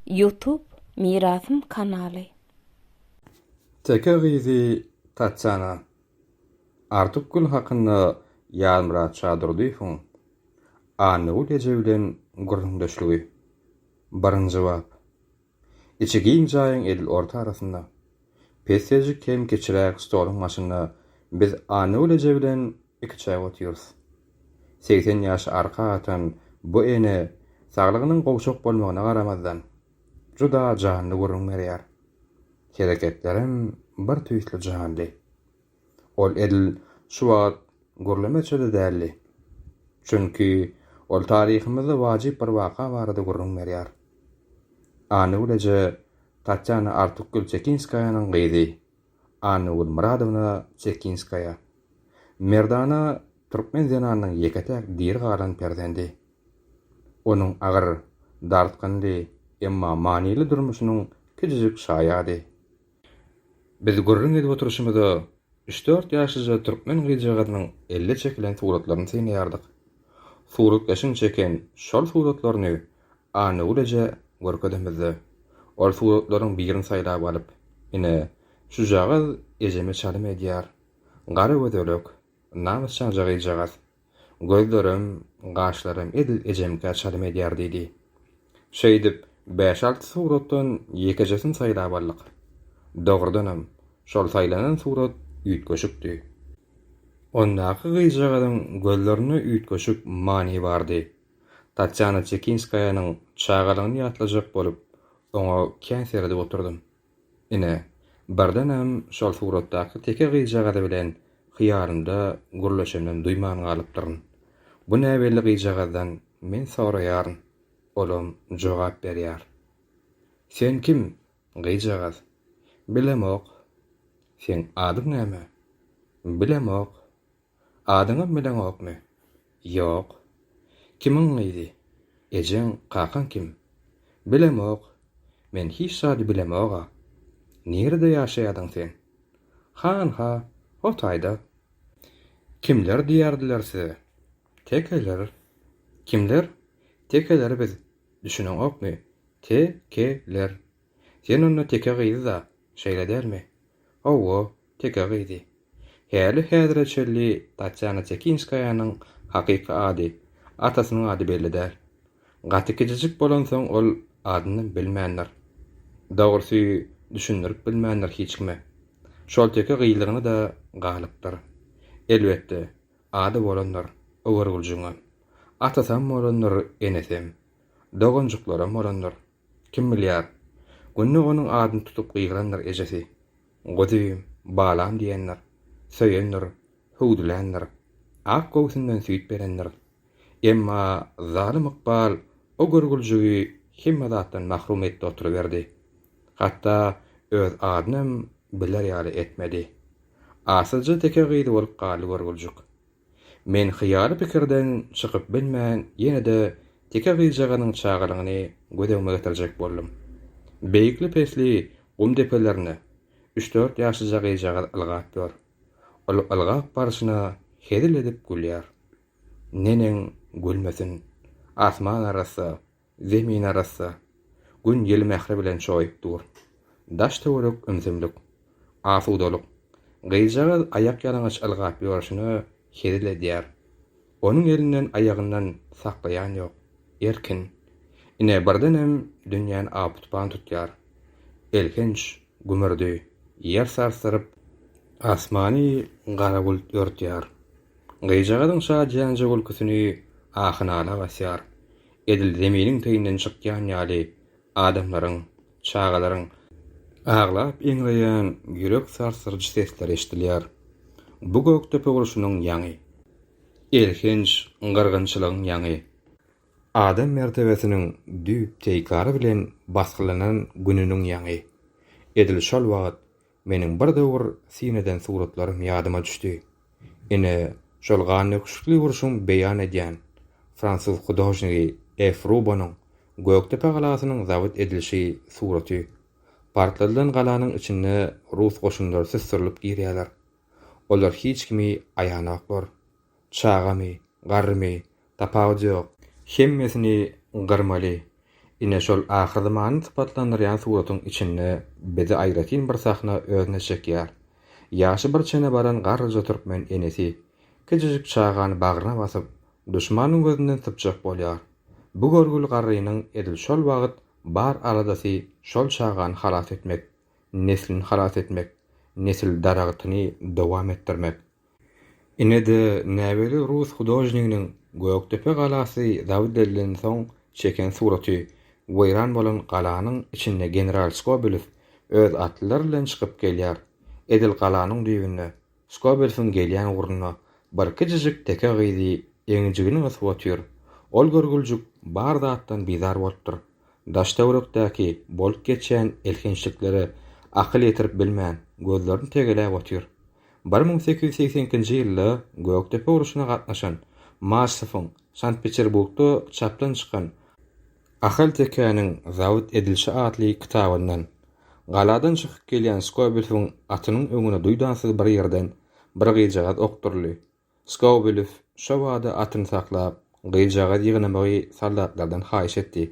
Youtube mirasym kanaly. Teke gyzy Tatýana. Artykgül hakynda Ýazmyrat Şadurdyýewiň Annagül eje bilen gürrüňdeşligi. Birinji bap. Içi giň jaýyň edil orta arasynda, pesseljik hem kiçiräk stoluň başynda biz Annagül eje bilen Iki çaý otyrys. Segsen ýaşy arka atan bu ene saglygynyň gowşak bolmagyna garamazdan, juda janly gürrüň berýär. Hereketlerem bir tüýsli janly. Ol edil şu wagt gürlemeçe-de däldi. Çünki ol taryhymyzda wajyp bir waka barada gürrüň berýär. Annagül eje Tatýana Artukgül Çekinskaýanyň gyzy. Anna Gulmyradowna Çekinskaýa, merdana türkmen zenanynyň ýeke-täk diri galan perzendi. Onuň agyr, dartgynly, emma manyly durmuşynyň kiçijik şaýady. Biz gürrüň edip oturyşymyza, üç-dört ýaşlyja türkmen gyzjagazynyň elle çekilen suratlaryny synlaýardyk. Suratkeşiň çeken şol suratlaryny Annagül eje görkezemizde, ol suratlaryň birini saýlap alyp, Ine, şujagaz ejeme çalym edýär. Gara gözelek, namysjaň jygyjagaz. Gözlerem, gaşlaram edil ejemkä çalym edýär diýdi. Şeýdip, bäş-alty suratdan ýekejesini saýlap aldyk. Dogrudanam, şol saýlanan surat üýtgeşikdi. Ondaky gyzjagazyň gözlerinde üýtgeşik many bardy. Tatýana Çekinskaýanyň çagalygyny ýatlajak bolup, oňa kän seredip oturdym. Ine, birdenem şol suratdaky teke gyzjagazy bilen hyýalymda gürleşemden duýman galypdyryn. Bu näbelli gyzjagazdan men soraýaryn, olam jogap berýär. Sen kim, gyzjagaz? Bilemok. Seň adyň näme? Bilemok. Adyňam bileňokmy? Ýok. Kimiň gyzy? Ejeň, kakaň kim? Bilemok. Men hiç zady bilemog-a. Nirede ýaşaýadyň sen? Han-ha, o taýda. Kimler diýerdiler size? Tekeler. Kimler? Tekeler biz. Düşüneňokmy? Te-ke-ler. Sen onda teke gyzy-da, şeýle dälmi? Hawa, teke gyzy. Häli-häzire çenli Tatýana Tekinskaýanyň hakyky ady, atasynyň ady belli däl. Gaty kiçijik bolansoň ol adynam bilmändir. Dogrusy, düşündirip bilmändir hiç kime. Şol teke gyzlygyna-da galypdyr. Elbetde, ady bolandyr, Öwürgüljiňem. Atasam bolandyr, enesem. Doganjyklaram bolandyr. Kim bilýär, günde onuň adyny tutup gygyrandyr ejesi. Guzym, balam diýendir. Söýendir, hüwdüländir. Ak göwsünden süýt berendir. Emma zalym ykbal o görgüljigi hemme zatdan mahrum etdi oturyberdi. Hatda öz adynam biler ýaly etmedi. Asylja teke gyz bolup galdy görgüljik. Men hyýaly pikirden çykyp bilmän ýene-de teke gyzjagazyň çagalygyny göz öňüme getirjek boldum. Beýikli-pesli gum depelerinde üç-dört ýaşlyja gyzjagaz ylgap ýör. Ol ylgap barşyna hezil edip gülýär. Neneň gülmesin? Asman arassa, Zemin arassa. Gün ýel mähri bilen çoýup dur. Daş-töwerek ümsümlik. Asudalyk. Gyzjagaz aýakýalaňaç ylgap ýörşüne hezil edýär. Onuň elinden aýagyndan saklaýan ýok. Erkin. Ine birdenem dünýäni aw-tupan tutýar. Elhenç gümürdi. Ýer sarsdyryp. Asmany gara bult örtýär. Gyzjagazyň şadyýanja gülküsini ahy-nala basýar. edil zeminiň teýinden çykýan ýaly adamlaryň, çagalaryň aglap eňreýän ýürek sarsdyryjy sesleri eşidilýär. Bu Gökdepe urşunyň ýaňy. Elhenç gyrgynçylygyň ýaňy. Adam mertebesiniň düýp teýkary bilen basgylanan gününiň ýaňy. Edil şol wagt Meniň bir döwür syn eden suratlarym ýadyma düşdi. Ine, şol gannöküşlikli urşuň beýan edýän, fransuz hudožnigi E. Frubonyň Gökdepe galasynyň zabit edilişi suraty. Partladylan galanyň içinde rus goşunlary süsdürilip girýärler. Olar hiç kimi aýanoklar. Çagamy, garrymy, tapawudy ýok. Hemmesini gyrmaly. Ine şol ahyr zamany sypatlandyrýan suratyň içinde bizi aýratyn bir sahna özüne çekýär. Ýaşy bir çene baran garryja türkmen enesi, kiçijik çagany bagryna basyp, duşmanyň gözünden sypjak bolýar. Bu görgüli garrynyň edil şol wagt bar aladasy şol çagany halas etmek, neslini halas etmek, nesil daragtyny dowam etdirmek. Ine-de, näbelli rus hudožniginiň Gökdepe galasy zabit edilensoň çeken suraty, weýran bolan galanyň içinde general Skobelew öz atlylary bilen çykyp gelýär. Edil galanyň düýbünde, Skobelewiň gelýän ugrunda birki jijik teke gyzy eginjigini gysyp otyr. Ol görgüljik bar zatdan bizar bolupdyr. daş-töwerekdäki bolup geçýän elhençliklere akyl ýetirip bilmän, gözlerini tegeläp otyr. Bir müň sekiz ýüz segsen ikinji ýylda Gökdepe urşuna gatnaşan Maşsowyň Sankt-Peterburgda çapdan çykan Ahaltekäniň zabit edilişi atly kitabyndan, Galadan çykyp gelýän Skobelewiň atynyň öňüne duýdansyz bir ýerden bir gyzjagaz okduryldy. Skowbelew şo bada atyny saklap, gyzjagazy ýygnamagy soldatlardan haýyş etdi.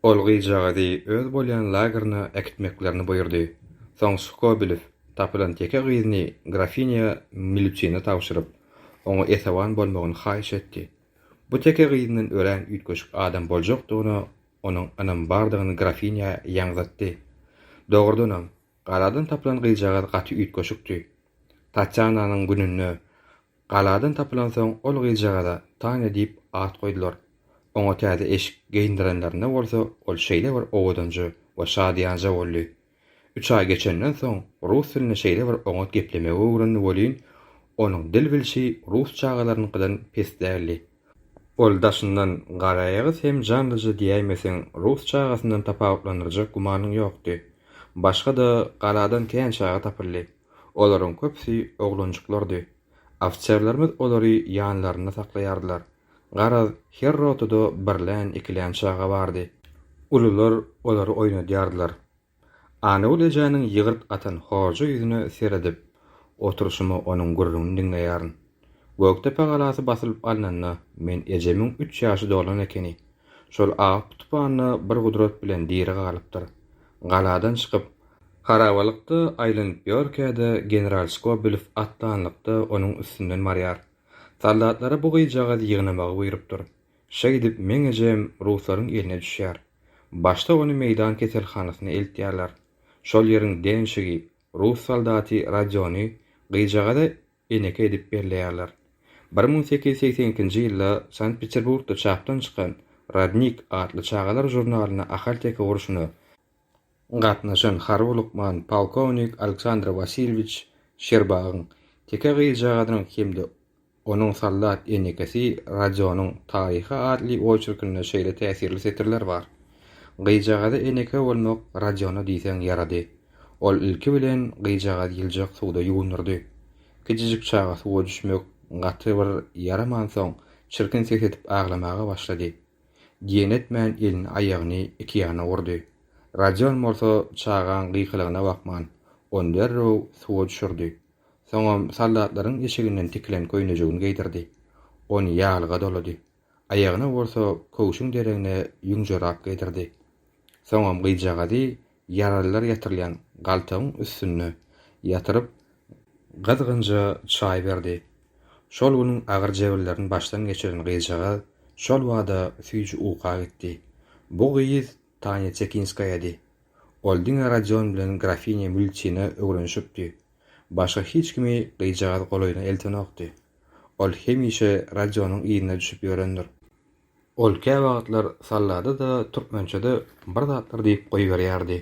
Ol gyzjagazy öz bolýan lageryna äkitmeklerini buýurdy. Soň Skowbelew tapylan ýeke gyzyny grafinýa Milutine tabşyryp, oňa esewan bolmagyny haýyş etdi. Bu teke gyzyndan örän üýtgeşik adam boljakdygyna onuň ynamy bardygyny grafinýa ýaňzytdy. Dogrudanam, Galadan tapylan gyzjagaz gaty üýtgeşikdi. Tatýananyň gününde galadan tapylansoň ol gyzjagaza Tanya diýip at goýdular. Oňa täze eşik geýindirenlerinde bolsa ol şeýle bir owadanja we şadyýanja boldy. Üç aý geçenden soň rus dilini şeýle bir oňat geplemegi öwrendi welin, onuň dil bilşi rus çagalarynyňkydan pes däldi. Ol daşyndan garaýagyz hem janlyja diýäýmeseň rus çagasyndan tapawutlandyrjak gümanyň ýokdy. Başga-da galadan kän çaga tapyldy. Olaryň köpüsi oglanjyklardy. Ofiserlerimiz olary ýanlarynda saklaýardylar. Garaz, her rotada birlän, ikilän çaga bardy. Ulular olary oýnadýardylar. Anagül ejäniň ýygyrt atan hoja ýüzüne seredip oturyşyma onuň gürrüňini diňleýärin. Gökdepe galasy basylyp alnanda men ejemiň üç ýaşy dolan ekeni. Şol awup tupanda bir gudrat bilen diri galypdyr. Galadan çykyp, harabalykda aýlanyp ýörkä-de general Skobelow atlanlykda onuň üstünden barýar. Soldatlara bu gyzjagazy ýygnamagy buýrupdyr. Şeýdip, meň ejem ruslaryň eline düşýär. Başda ony meýdan keselhanasyna eltýärler. Şol ýeriň denşigi, rus soldaty Rodiony gyzjagaza eneke edip belleýärler. Bir müň sekiz ýüz segsen ikinji ýylda Sankt-Peterburgda çapdan çykan Rodnik atly çagalar žurnalyna Ahal-Teke urşuna gatnaşan harby lukman polkownik Aleksandr Wasilýewiç Şerbagyň teke gyzjagazynyň hem-de onuň soldat enekesi Rodionyň taryhy atly oçerkinde şeýle täsirli setirler bar, Gyzjagaza eneke bolmak Rodiona diýseň ýarady. Ol ilki bilen gyzjagazy ýyljak suwda ýuwundyrdy. Kijijik çaga suwa düşmek gaty bir ýaramansoň, çirkin ses edip aglamaga başlady. Diýen etmän elini-aýagyny iki ýana urdy. Rodion bolsa çagaň gykylygyna bakman, ony derrew suwa düşürdi. Soňam soldatlaryň eşiginden tikilen köýnejigini geýdirdi. Ony ýaglyga dolady. Aýagyna bolsa köwşüň deregine ýüň jorap geýdirdi. Soňam gyzjagazy Ýaralylar ýatyrylýan galtagyň üstünde ýatyryp, gyzgynja çaý berdi. Şol günüň agyr jebirlerini başdan geçiren gyzjagaz şol bada süýji uka gitdi. Bu gyz Tanya Çekinskaýady. Ol diňe Rodion bilen grafinya Mülçina öwrenişipdi. Başga hiç kimi gyzjagaz golaýyna eltenokdy. Ol hemişe Rodionyň yzyna düşüp ýörendir. Ol käwagtlar sallada-da, türkmençe-de bir zatlar diýip goýberýärdi.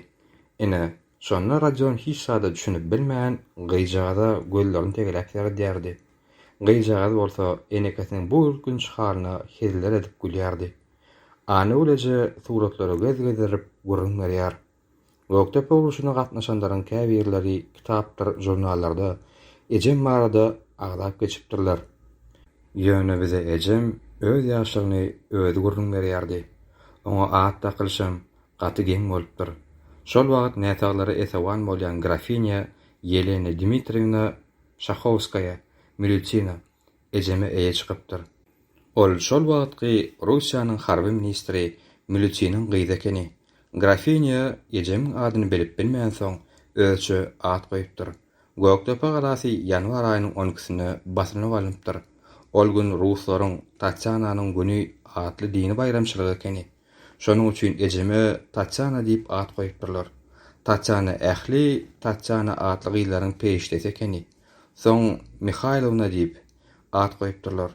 Ine, şonda Rodion hiç zada düşünip bilmän, gyzjagaza gözlerini tegeläp seredýärdi. Gyzjagaz bolsa enekesiniň bu ürkünç halyna heziller edip gülýärdi. Anagül eje suratlary gez-gezdirip gürrüň berýär. Gökdepe urşuna gatnaşanlaryň käbirleri kitapdyr žurnallarda ejem barada agzap geçipdirler. Ýöne bize ejem öz ýaşlygyny özi gürrüň berýärdi. Oňa at dakylyşam gaty geň bolupdyr. Şol wagt näsaglara esewan bolýan grafinýa Ýelena Dmitriýewna Şahowskaýa, Milýutina, ejeme eýe çykypdyr. Ol şol wagtky Russiýanyň harby ministri Mülütiniň gyzy ekeni. Grafinya ejemiň adyny bilip bilmänsoň, özçe at goýupdyr. Gökdepe galasy ýanwar aýynyň on ikisinde basylyp alnypdyr. Ol gün ruslaryň Tatýananyň güni atly dini baýramçylygy ekeni. Şonuň üçin ejeme Tatýana diýip at goýupdyrlar. Tatýana ähli Tatýana atly gyzlaryň perişdesi ekeni. Soň Mihaýlowna diýip, at goýupdyrlar.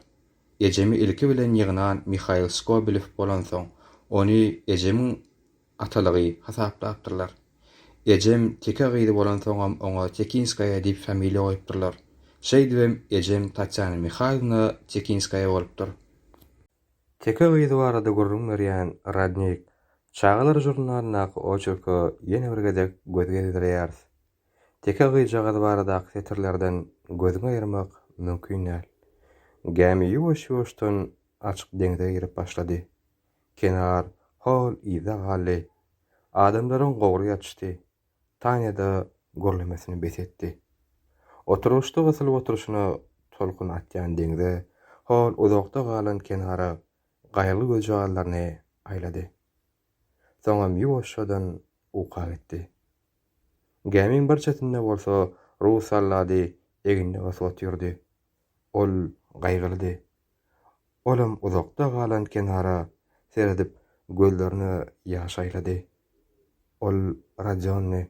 Ejemi ilki bilen ýygnan Mihaýl Skobelow bolansoň, ony ejemiň atalygy hasaplapdyrlar. Ejem teke gyzy bolansoňam oňa Tekinskaýa diýip familiýa goýupdyrlar. Şeýdibem ejem Tatýana Mihaýlowna Tekinskaýa bolupdyr. Teke gyzy barada gürrüň berýän Rodnik çagalar žurnalyndaky oçerke ýene bir gezek göz gezdireýäris. Teke gyzjagaz baradaky setirlerden gözüňi aýyrmak mümkin däl. Gämi ýuwaş-ýuwaşdan açyk deňze girip başlady. Kenar hol yzda galdy. Adamlaryň gowry ýatyşdy. Tanya-da gürlemesini bes etdi. Oturgyçda gysylyp oturyşyna tolkun atýan deňze, hol uzakda galan kenara gaýgy gözjagazlaryny aýlady. soňam ýuwaşjadan uka gitdi. Gämiň bir çetinde bolsa rus sollady egnine ot otyrdy. Ol gaýgylydy. Olam uzakda galan kenara seredip gözlerine ýaş aýlady. Ol Rodionny,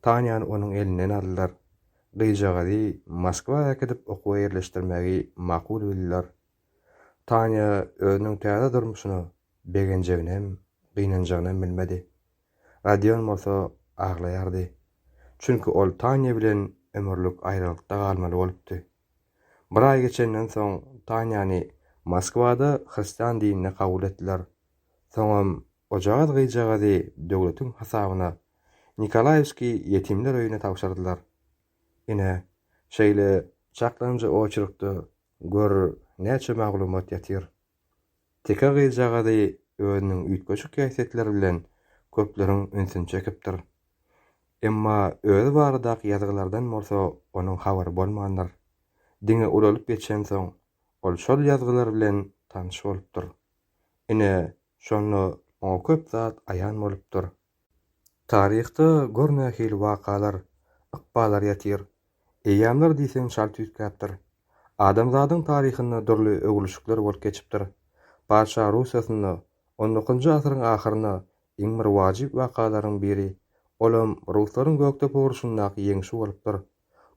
Tanyany onuň elinden aldylar. Gyzjagazy Moskwa äkidip okuwa ýerleşdirmegi makul bildiler. Tanya özüniň täze durmuşyna begenjeginem, gynanjagynam bilmedi. Rodion bolsa aglaýardy. Çünki ol Tanya bilen ömürlik aýralykda galmaly bolupdy. Bir aý geçenden soň Tanyany Moskwada hristian dinine kabul etdiler. Soňam ojagaz gyzjagazy döwletiň hasabyna Nikolaýewskiý ýetimler öýüne tabşyrdylar. Ine, şeýle çaklanyjy oçerkde Gör, näçe maglumat ýatyr. Teke gyzjagazy özüniň üýtgeşik häsiýetleri bilen köpleriň ünsüni çekipdir. Emma özi baradaky ýazgylardan bolsa onuň habary bolmandyr. Diňe ulalyp geçensoň, ol şol ýazgylar bilen tanyş bolupdyr. Ine, şonda oňa köp zat aýan bolupdyr. Taryhda gör nähili wakalar, ykballar ýatyr. Eýýamlar diýseň çalt üýtgäpdir. Adamzadyň taryhynda dürli öwrülişikler bolup geçipdir. Patyşa Russiýasynda on dokuzynjy asyryň ahyrynda iň bir wajyp wakalaryň biri, olam ruslaryň Gökdepe urşundaky ýeňşi bolupdyr.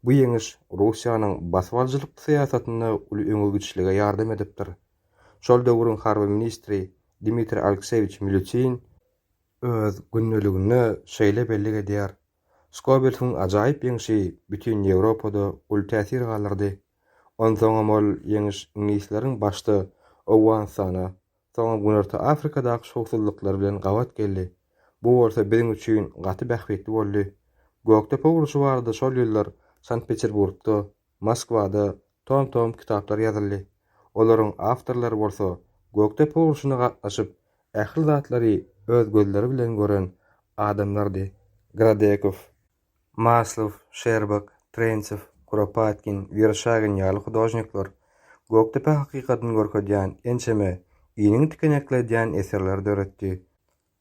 Bu ýeňiş Russiýanyň basybalyjylyk syýasatynda uly öňe gidişlige ýardam edipdir. Şol döwrüň harby ministri Dmitriý Alekseýewiç Milýutin, öz gündeliginde şeýle bellik edýär, Skobelsiň ajaýyp ýeňşi bütin Ýewropada uly täsir galdyrdy. Onsoňam ol ýeňiş iňlisleriň başda Owganystana, soňam Günorta Afrikadaky şowsuzlyklary bilen gabat geldi. Bu bolsa biziň üçin gaty bähbitli boldy. Gökdepe urşy barada şol ýyllar Sankt-Peterburgda Moskwada tom-tom kitaplar ýazyldy. Olaryň awtorlary bolsa Gökdepe urşuna gatnaşyp, ähli zatlary öz gözleri bilen gören adamlardy. Gradekow, Maslow, Şerbak, Trençew, Kuropatkin, Werşagin ýaly hudožnikler Gökdepe hakykatyny görkezýän ençeme iniň tikenekledýän eserleri döretdi.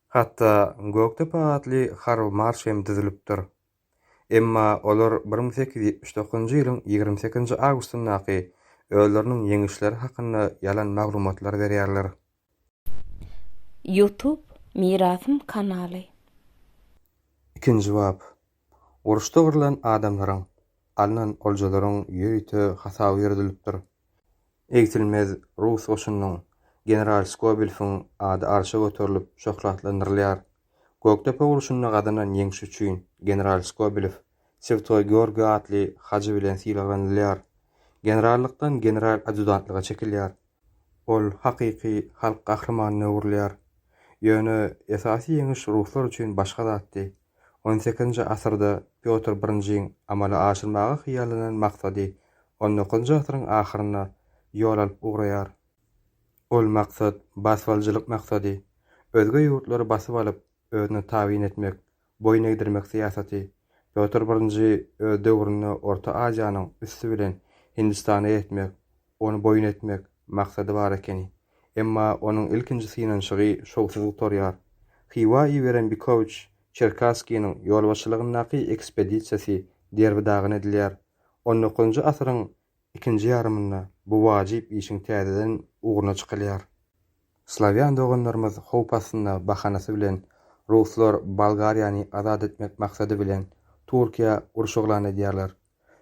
Hatda Gökdepe atly Karl Marş hem düzülipdir. Emma olar bir müň sekiz ýüz ýetmiş dokuzynjy ýylyň ýigrimi sekizinji awgustyndaky özleriniň ýeňişleri hakynda ýalan maglumatlary berýärler. Youtube Mirasym kanaly. Ikinji bap. Uruşda gyrlan adamlaryň, alnan oljalaryň ýörite hasaby ýöredilipdir. Egsilmez rus goşunynyň general Skobelfiň ady arşa göterilip şöhratlandyrylýar. Gökdepe urşunda gazanan ýeňşi üçin general Skobelew Swtoý Georgiý atly hajy bilen sylaglanylýar. Generallykdan general adýutantlyga çekilýär. Ol hakyky halk gahrymanyna öwrülýär. Ýöne esasy ýeňiş ruslar üçin başga zatdy. On sekizinji asyrda Pýotr Birinjiň amala aşyrmaga hyýallanan maksady on dokuzynjy asyryň ahyrynda ýol alyp ugraýar. Ol maksat, basybalyjylyk maksady, özge ýurtlary basyp alyp, özüne tabyn etmek, boýun egdirmek syýasaty. Pýotr I öz döwründe Orta Aziýanyň üsti bilen Hindistana ýetmek, ony boýun etmek, maksady bar ekeni. Emma onuň ilkinji synanyşygy şowsuz gutarýar. Hywa iberen Bikowiç Çerkasskiniň ýolbaşçylygyndaky ekspedisiýasy derbi-dagyn edilýär. On dokuzynjy asyryň ikinji ýarymynda bu wajyp işiň täzeden ugruna çykylýar. Slawýan doganlarymyz howp astynda bahanasy bilen ruslar Bolgariýany azat etmek maksady bilen Türkiýä uruş yglan edýärler.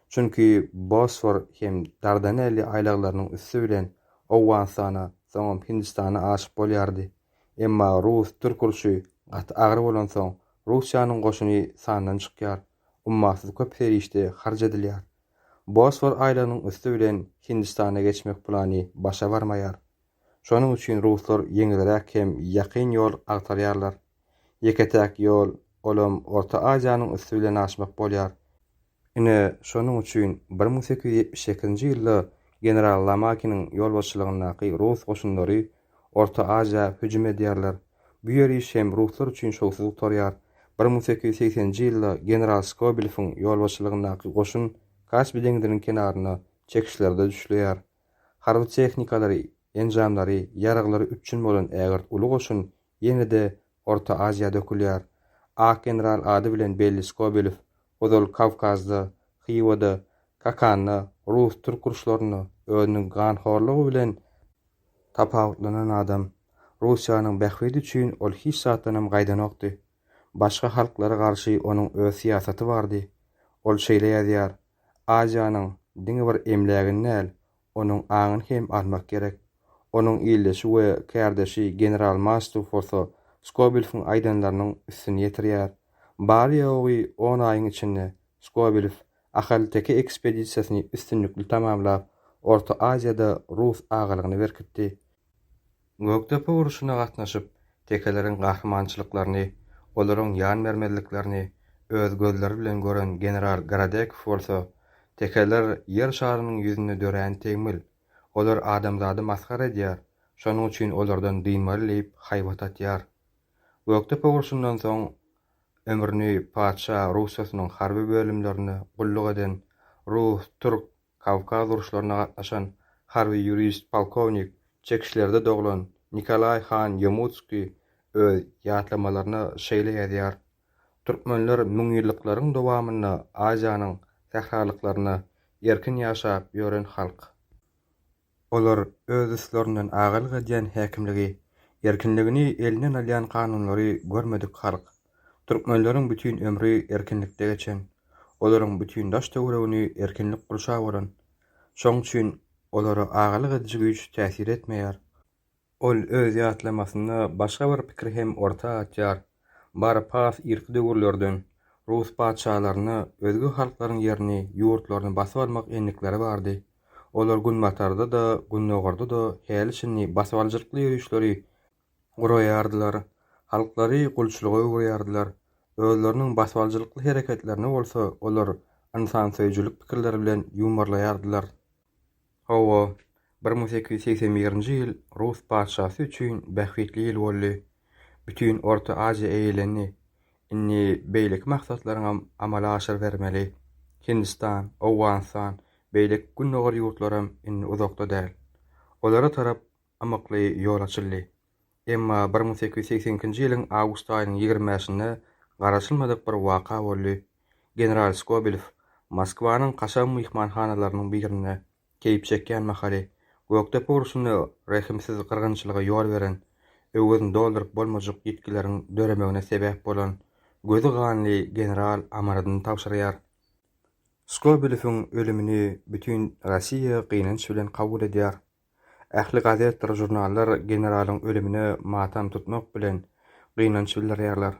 Çünki Bosfor hem Dardanelli aýlaglarynyň üsti bilen Owganystana, soňam Hindistana aşyp bolýardy. Emma rus-türk urşy gaty agyr bolansoň, Russiýanyň goşuny sandan çykýar, ummasyz köp serişde harç edilýär. Bosfor aýlagynyň üsti bilen Hindistana geçmek plany başa barmaýar. Şonuň üçin ruslar ýeňilräk hem ýakyn ýol agtarýarlar. Ýeke-täk ýol, olam Orta Aziýanyň üsti bilen aşmak bolýar. Ine, şonuň üçin bir müň sekiz ýüz ýetmiş sekizinji ýylda general Lamakiniň ýolbaşçylygyndaky rus goşunlary Orta Aziýa hüjüm edýärler. Bu ýer iş hem ruslar üçin şowsuz gutarýar. Bir müň sekiz ýüz segsen nji ýylda general Skobelewiň ýolbaşçylygyndaky goşun Kaspi deňziniň kenarynda çekişlerde düşleýär. Harby tehnikalary, enjamlary, ýaraglary üpjün bolan ägirt uly goşun ýene-de Orta Aziýa dökülýär. Ak general ady bilen belli Skobelew ozal Kawkazda, Hywada, Kakanda, rus-türk uruşlarynda özüniň ganhorlugy bilen Tapawutlanan adam. Russiýanyň bähbidi üçin ol hiç zatdanam gaýdanokdy. Başga halklara garşy onuň öz syýasaty bardy. Ol şeýle ýazýar, Aziýanyň diňe bir emlägini däl, onuň aňyny hem almak gerek. Onuň ildeşi we kärdeşi general Mastow bolsa Skobelewiň aýdanlarynyň üstüni ýetirýär. Bary-ýogy on aýyň içinde Skobelew Ahalteke ekspedisiýasyny üstünlikli tamamlap, Orta Aziýada rus agalygyny berkitdi. Gökdepe urşuna gatnaşyp, tekeleriň gahrymançylyklaryny, olaryň ýan bermezliklerini öz gözleri bilen gören general Gorodekow bolsa, Tekeler Ýer şarynyň ýüzünde dörän tegmil. Olar adamzady masgara edýär, şonuň üçin olardan dynmaly diýip haýbat atýar. Gökdepe urşundan soň ömrüni patyşa Russiýasynyň harby bölümlerinde gulluk eden, rus, türk, kawkaz uruşlaryna gatnaşan harby ýurist, polkownik, Çekişlerde doglan Nikolaý han Ýomutskiý öz ýatlamalarynda şeýle ýazýar, Türkmenler müňýyllyklaryň dowamynda Aziýanyň sähralyklarynda erkin ýaşap ýören halk. Olar öz üstlerinden agalyk edýän häkimligi, erkinligini elinden alýan kanunlary görmedik halk. Türkmenleriň bütin ömri erkinlikde geçen, olaryň bütin daş-töweregini erkinlik gurşap alan. Şoň üçin olara agalyk ediji güýç täsir etmeýär. Ol öz ýatlamasynda başga bir pikiri hem orta atýar, Bary pars irki döwürlerden, rus patyşalaryna özge halklaryň ýerini, ýurtlaryny basyp almak endikleri bardy. Olar günbatarda-da, gündogarda-da häli-şindi basybalyjylykly ýörişleri guraýardylar, halklary gulçulyga öwürýärdiler. Özleriniň basybalyjylykly hereketlerini bolsa olar ynsansöýüjilik pikirleri bilen ýuwmarlaýardylar. Hawa, bir müň sekiz ýüz segsen birinji ýyl rus patyşasy üçin bähbitli ýyl boldy. Bütin Orta Aziýa eýelendi. Indi beýleki maksatlaryňam amala aşyrybermeli. Hindistan, Owganystan, beýleki Gündogar ýurtlaram indi uzakda däl. Olara tarap ymykly ýol açyldy. Emma bir müň sekiz ýüz segsen ikinji ýylyň awgust aýynyň ýigrimi bäşinde garaşylmadyk bir waka boldy. General Skobelew Moskwanyň kaşaň myhmanhanalarynyň birinde keýp çekýän mahaly, Gökdepe urşunda rehimsiz gyrgynçylyga ýol beren, öwezini dolduryp bolmajak ýitgileriň döremegine sebäp bolan gözi ganly general amanadyny tabşyrýar. Skobelewiň ölümini bütin Rossiýa gynanç bilen kabul edýär. Ähli gazetdir žurnallar generalyň ölümine matam tutmak bilen gynanç bildirýärler.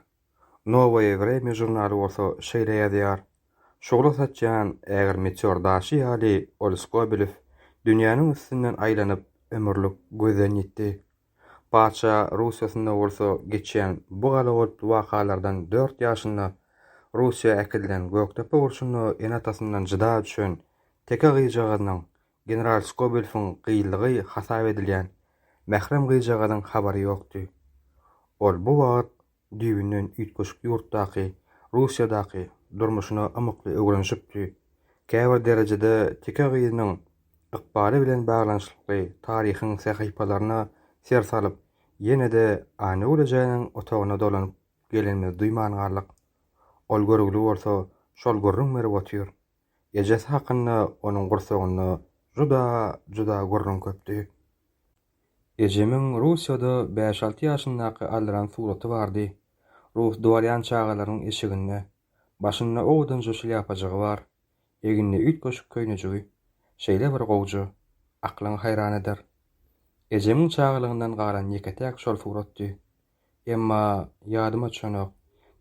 Nowoýe Wremýe žurnaly bolsa şeýle ýazýar, Şugla saçýan ägir meteor daşy ýaly ol Skobelew dünýäniň üstünden aýlanyp ömürlik gözden ýitdi. Patyşa Russiýasynda bolsa geçýän bu galagolply wakalardan dört ýaşynda Russiýa äkidilen Gökdepe urşunda ene-atasyndan jyda düşen teke gyzjagazynyň General Skobelfiň gyýylgy hasap edilýän mährem gyzjagazyň habary ýokdy. Ol bu wagt düýbünden üýtgeşik ýurtdaky, Russiýadaky durmuşyna ymykly öwrenişipdi, käbir derejede teke gyzynyň ykbaly bilen baglanyşykly taryhyň sähypalaryna ser salyp, ýene-de Anöwlejäniň otagyna dolanyp gelenimizi duýman galdyk. Ol görgüli bolsa, şol gürrüň berip otyr. Ejesi hakynda onuň gursagynda juda, juda gürrüň köpdi. Ejemiň Russiýada bäş-alty ýaşyndaky aldyran suraty bardy. Rus dworýan çagalarynyň eşiginde. Başynda owadanja şlýapajygy bar. Egninde üýtgeşik köýnejigi. Şeýle bir gowja. Aklyňy haýran eder. Ejemiň çagalygyndan galan ýeke-täk şol suratdy. Emma ýadyma düşenok,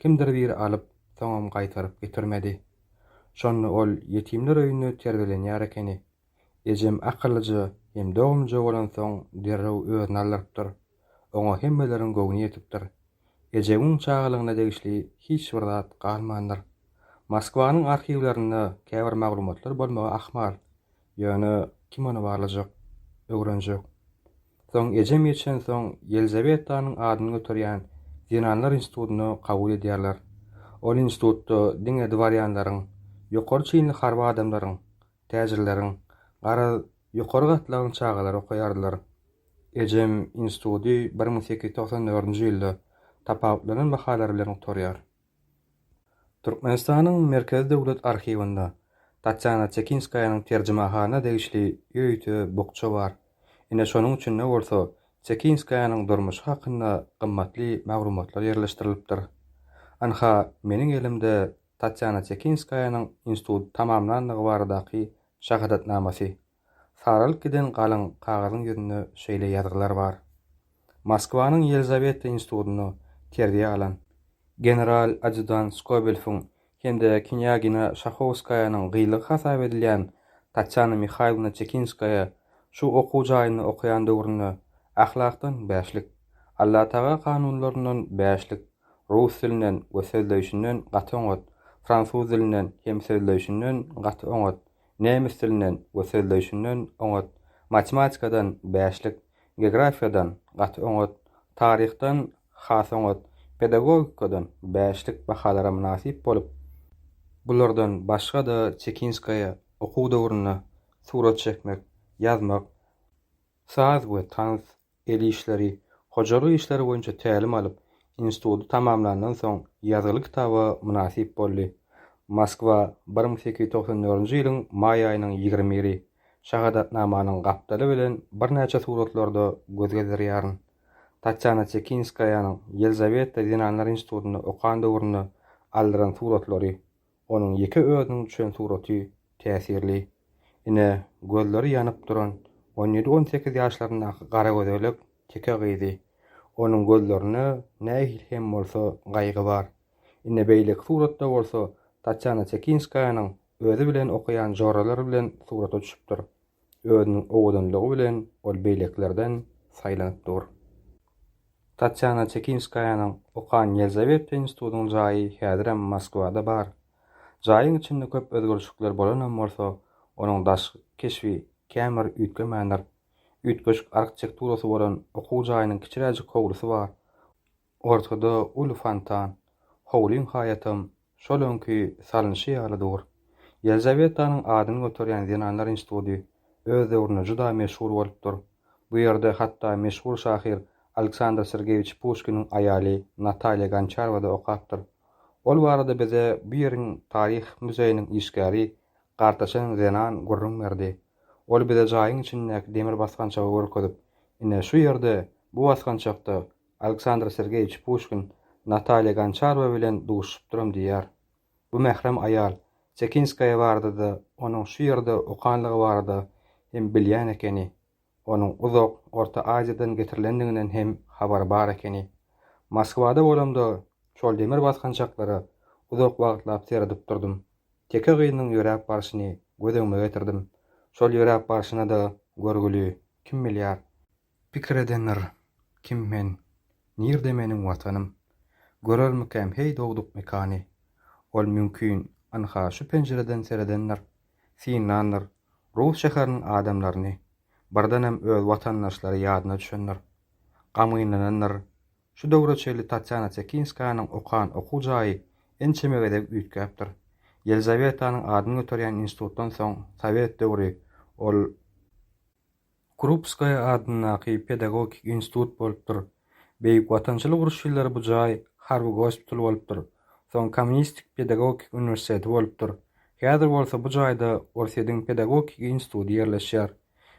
kimdir biri alyp, soňam gaýtaryp getirmedi. Şonda ol ýetimler öýünde terbiýelenýär ekeni. Ejem akyllyja hem dogumlyja bolansoň derrew özüni aldyrypdyr. Oňa hemmeleriň göwni ýetipdir. Ejemiň çagalygyna degişli hiç bir zat galmandyr. Moskwanyň arhiwlerinde käbir maglumatlar bolmagy ahmal. Ýöne kim ony barlajak, öwrenjek? Soň ejem geçensoň Ýelizawetanyň adyny göterýän zenanlar institutyna kabul edýärler. Ol institutda diňe dworýanlaryň, ýokary çinli harby adamlaryň, täjirleriň, garaz, ýokary gatlagyň çagalary okaýardylar. Ejem instituty bir müň sekiz ýüz togsan dördünji ýylda tapawutlanan bahalary bilen gutarýar. Türkmenistanyň Merkezi döwlet arhiwinde Tatýana Çekinskaýanyň terjimehana degişli öýüte bukja bar. Ine şonuň içinde bolsa Çekinskaýanyň durmuşy hakynda gymmatly maglumatlar ýerleşdirilipdir. Ynha, meniň elimde Tatýana Çekinskaýanyň institut tamamlandygy baradaky şahadatnamasy. Saralyp giden galyň kagyzyň ýüzünde şeýle ýazgylar bar. Moskwanyň Ýelizaweta institutynda terbiýe alan, general adýutant Skobelfiň hem-de knýagina Şahowskaýanyň gylygy hasap edilýän Tatýana Mihaýlowna Çekinskaýa şu okuw jaýynda okaýan döwründe Ahlakdan bäşlik, Allataga kanunlaryndan bäşlik, rus dilinden we sözleýşinden gaty oňat, fransuz dilinden hem sözleýşinden gaty oňat, nemes dilinden we sözleýşinden oňat, matematikadan bäşlik, geografiýadan gaty oňat, taryhdan has oňat, pedagogikadan bäşlik bahalara mynasyp bolup, bulardan başga-da Çekinskaýa okuw döwründe surat çekmek, ýazmak, saz we tans, el işleri, hojalyk işleri boýunça tälim alyp, instituty tamamlandan soň ýazgyly kitaba mynasyp boldy. Moskwa, bir müň sekiz ýüz togsan dördünji ýylyň maý aýynyň ýigrimi biri. Şahadatnamanyň gapdaly bilen birnäçe suratlarda göz gezdirýärin. Tatýana Çekinskaýanyň Ýelizaweta zenanlar institutynda okan döwründe aldyran suratlary. Onuň ýeke özüniň düşen suraty täsirli. Ine, gözleri ýanyp duran on ýedi-on sekiz ýaşlaryndaky garagözelek teke gyzy. Onuň gözlerinde nähili hem bolsa gaýgy bar. Ine, beýleki suratda bolsa Tatýana Çekinskaýanyň özi bilen okaýan joralary bilen surata düşüpdir. Özüniň owadanlygy bilen ol beýlekilerden saýlanyp dur. Tatýana Çekinskaýanyň okan Ýelizaweta institutynyň jaýy häzirem Moskwada bar. Jaýyň içinde köp özgerişlikler bolanam bolsa, onuň daşky keşbi kän bir üýtgemändir. Üýtgeşik arhtekturasy bolan okuw jaýynyň kiçiräjik howlusy bar. Ortada uly fontan. Howlyň haýatam Şol öňki salnyşy ýaly dur. Ýelizawetanyň adyny göterýän zenanlar institudy öz döwründe juda meşhur bolupdyr. Bu ýerde hatda meşhur şahyr Aleksandr Sergeýewiç Puşkiniň aýaly Natalýa Gonçarowa-da okapdyr. Ol barada bize bu ýeriň taryh muzeýiniň işgäri Gartaşan zenan gürrüň berdi. Ol bize jaýyň içindäki demir basgançagy görkezip, Ine, şu ýerde, bu basgançakda Aleksandr Sergeýewiç Puşkin Natalýa Gonçarowa bilen duşuşypdyrym diýýär. Bu mährem aýal Sekinskaýa barada-da, onuň şu ýerde okanlygy barada hem bilýän ekeni. Onuň uzak Orta Aziýadan getirilendiginden hem habary bar ekeni. Moskwada bolamda şol demir basgançaklara uzak wagtlap seredip durdum. Teke gyzynyň ýöräp barşyny göz öňüme getirdim. Şol ýöräp barşyna-da görgüli, kim bilýär. Pikir edendir, Kim men? Nirde meniň Watanym? Görermikäm heý dogduk mekany? Ol mümkin, ynha, şu penjireden seredendir, synlandyr, rus şäheriniň adamlaryny, birdenem öz watandaşlary ýadyna düşendir. Gamgynlanandyr, Şu döwre çenli Tatýana Tekinskanyň okan okuw jaýy ençeme gezek üýtgäpdir. Ýelizawetanyň adyny göterýän institutdan soň sowet döwri ol Krupskaýa adyndaky pedagogik institut bolupdyr. Beýik Watançylyk urşy ýyllary bu jaý harby gospital bolupdyr. Soň Kommunistik pedagogik uniwersiteti bolupdyr. Häzir bolsa bu jaýda Orsýediň pedagogik instituty ýerleşýär.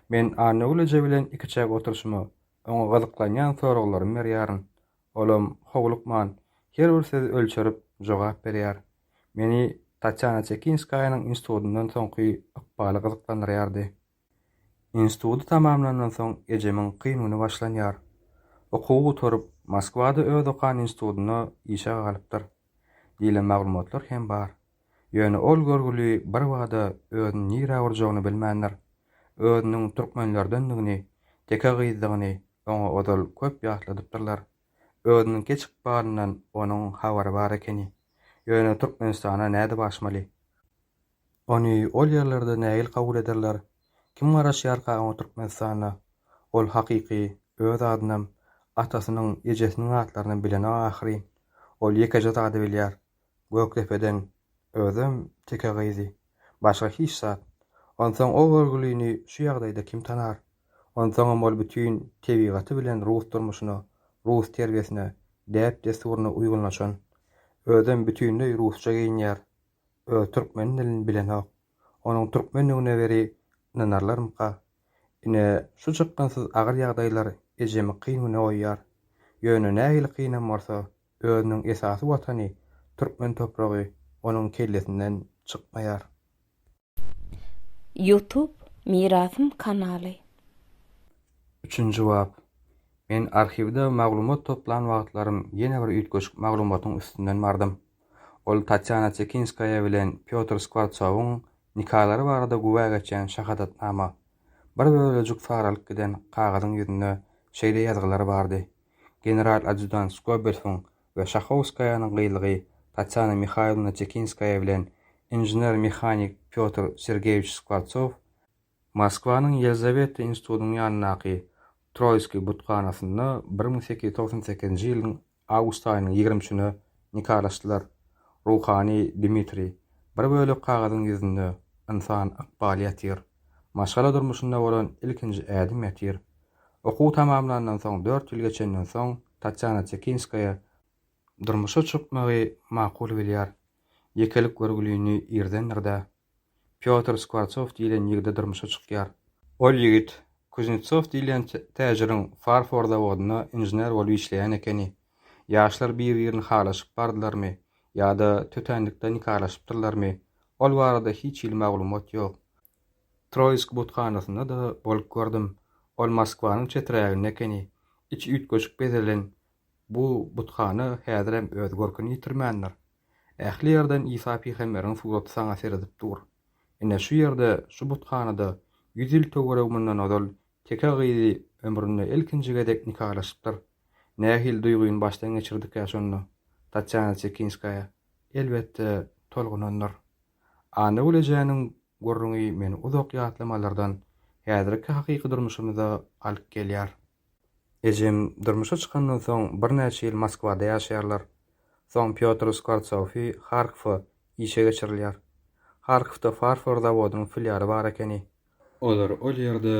Men Annagül eje bilen ikiçäk oturşyma, oňa gyzyklanýan soraglarymy berýärin. Olam, howlukman, her bir sözi ölçerip, jogap berýär. Meni Tatýana Çekinskaýanyň institutyndan soňky ykbaly gyzyklandyrýardy. Instituty tamamlandan soň ejemiň kyn güni başlanýar. Okuwy gutaryp, Moskwada öz okan institutynda işe galypdyr diýlen maglumatlar hem bar. Ýöne ol görgüli birbada özüni nirä urjagyny bilmändir. Özüniň türkmenlerdendigini, teke gyzdygyny oňa ozal köp ýatladypdyrlar. Özüniň keç ykbalyndan onuň habary bar ekeni. Ýöne Türkmenistana nädip aşmaly? Ony ol ýerlerde nähili kabul ederler? Kim garaşýarka oňa Türkmenistanda? Ol hakyky öz adynam, atasynyň, ejesiniň atlarynam bilenok ahyryn. Ol ýekeje zady bilýär, Gökdepeden, özem teke gyzy. Başga hiç zat. Onsoň o görgülini şu ýagdaýda kim tanar? Onsoňam ol bütin tebigaty bilen rus durmuşyna, rus terbiýesine, däp-dessuryna uýgunlaşan. Özem bütinleý rusça geýinýär. Öz türkmen dilini bilenok. Onuň türkmendigine weri ynanarlarmyka? Ine, şu çykgynsyz agyr ýagdaýlar ejemi kyn güne goýýar. Ýöne nähili kynam bolsa, özüniň esasy watany, türkmen topragy onuň kellesinden çykmaýar. Ýutub Mirasym kanaly. Üçünji bap. Men arhiwde maglumat toplan wagtlarym ýene bir üýtgeşik maglumatyň üstünden bardym. Ol Tatýana Çekinskaýa bilen Pýotr Skwartsowyň nikalary barada güwä geçýän şahadatnama. Bir bölejik saralyp giden kagyzyň ýüzünde şeýle ýazgylar bardy, General-adýudant Skobelfiň we Şahowskaýanyň gylygy Tatýana Mihaýlowna Çekinskaýa bilen inžener-mehanik Pýotr Sergeýewiç Skwortsow Moskwanyň Ýelizaweta institutynyň ýanyndaky Troýskiý buthanasynda bir müň sekiz ýüz togsan sekizinji ýylyň awgust aýynyň ýigrimi üçüne nikalaşdylar. Ruhany Dmitriý, Bir bölek kagyzyň ýüzünde ynsan ykbaly ýatyr. Maşgala durmuşynda bolan ilkinji ädim ýatyr. Okuw tamamlandan soň dört ýyl geçenden soň, Tatýana Tekinskaýa durmuşa çykmagy makul bilýär. Ýekelik görgülini irdendir-de, Pýotr Skwortsow diýlen ýigide durmuşa çykýar. Ol ýigit Kuznetsow diýlen täjiriň farfor zawodynda inžener bolup işleýän ekeni. Ýaşlar bir-birini halaşyp bardylarmy ýa-da tötänlikde nikalaşypdyrlarmy, ol barada hiç hili maglumat ýok. Troýsk buthanasynda-da bolup gördüm. Ol Moskwanyň çeträginde ekeni. Içi üýtgeşik bezelen bu buthana häzirem öz görküni ýitirmändir. Ähli ýerden Isa pygamberiň suraty saňa seredip dur. Ine, şu ýerde, şu buthanada ýüz ýyl töweregi mundan ozal teke gyzy ömründe ilkinji gezek nikalaşypdyr. Nähili duýgyny başdan geçirdikä şonda Tatýana Çekinskaýa? Elbetde, tolgunandyr. Annagül ejäniň gürrüňi meni uzak ýatlamalardan häzirki hakyky durmuşymyza alyp gelýär. Ejem durmuşa çykandan soň birnäçe ýyl Moskwada ýaşaýarlar. Soň Pýotr Skwortsowfi Harkowa işe geçirilýär. Harkowda farfor zawodynyň filialy bar ekeni. Olar ol ýerde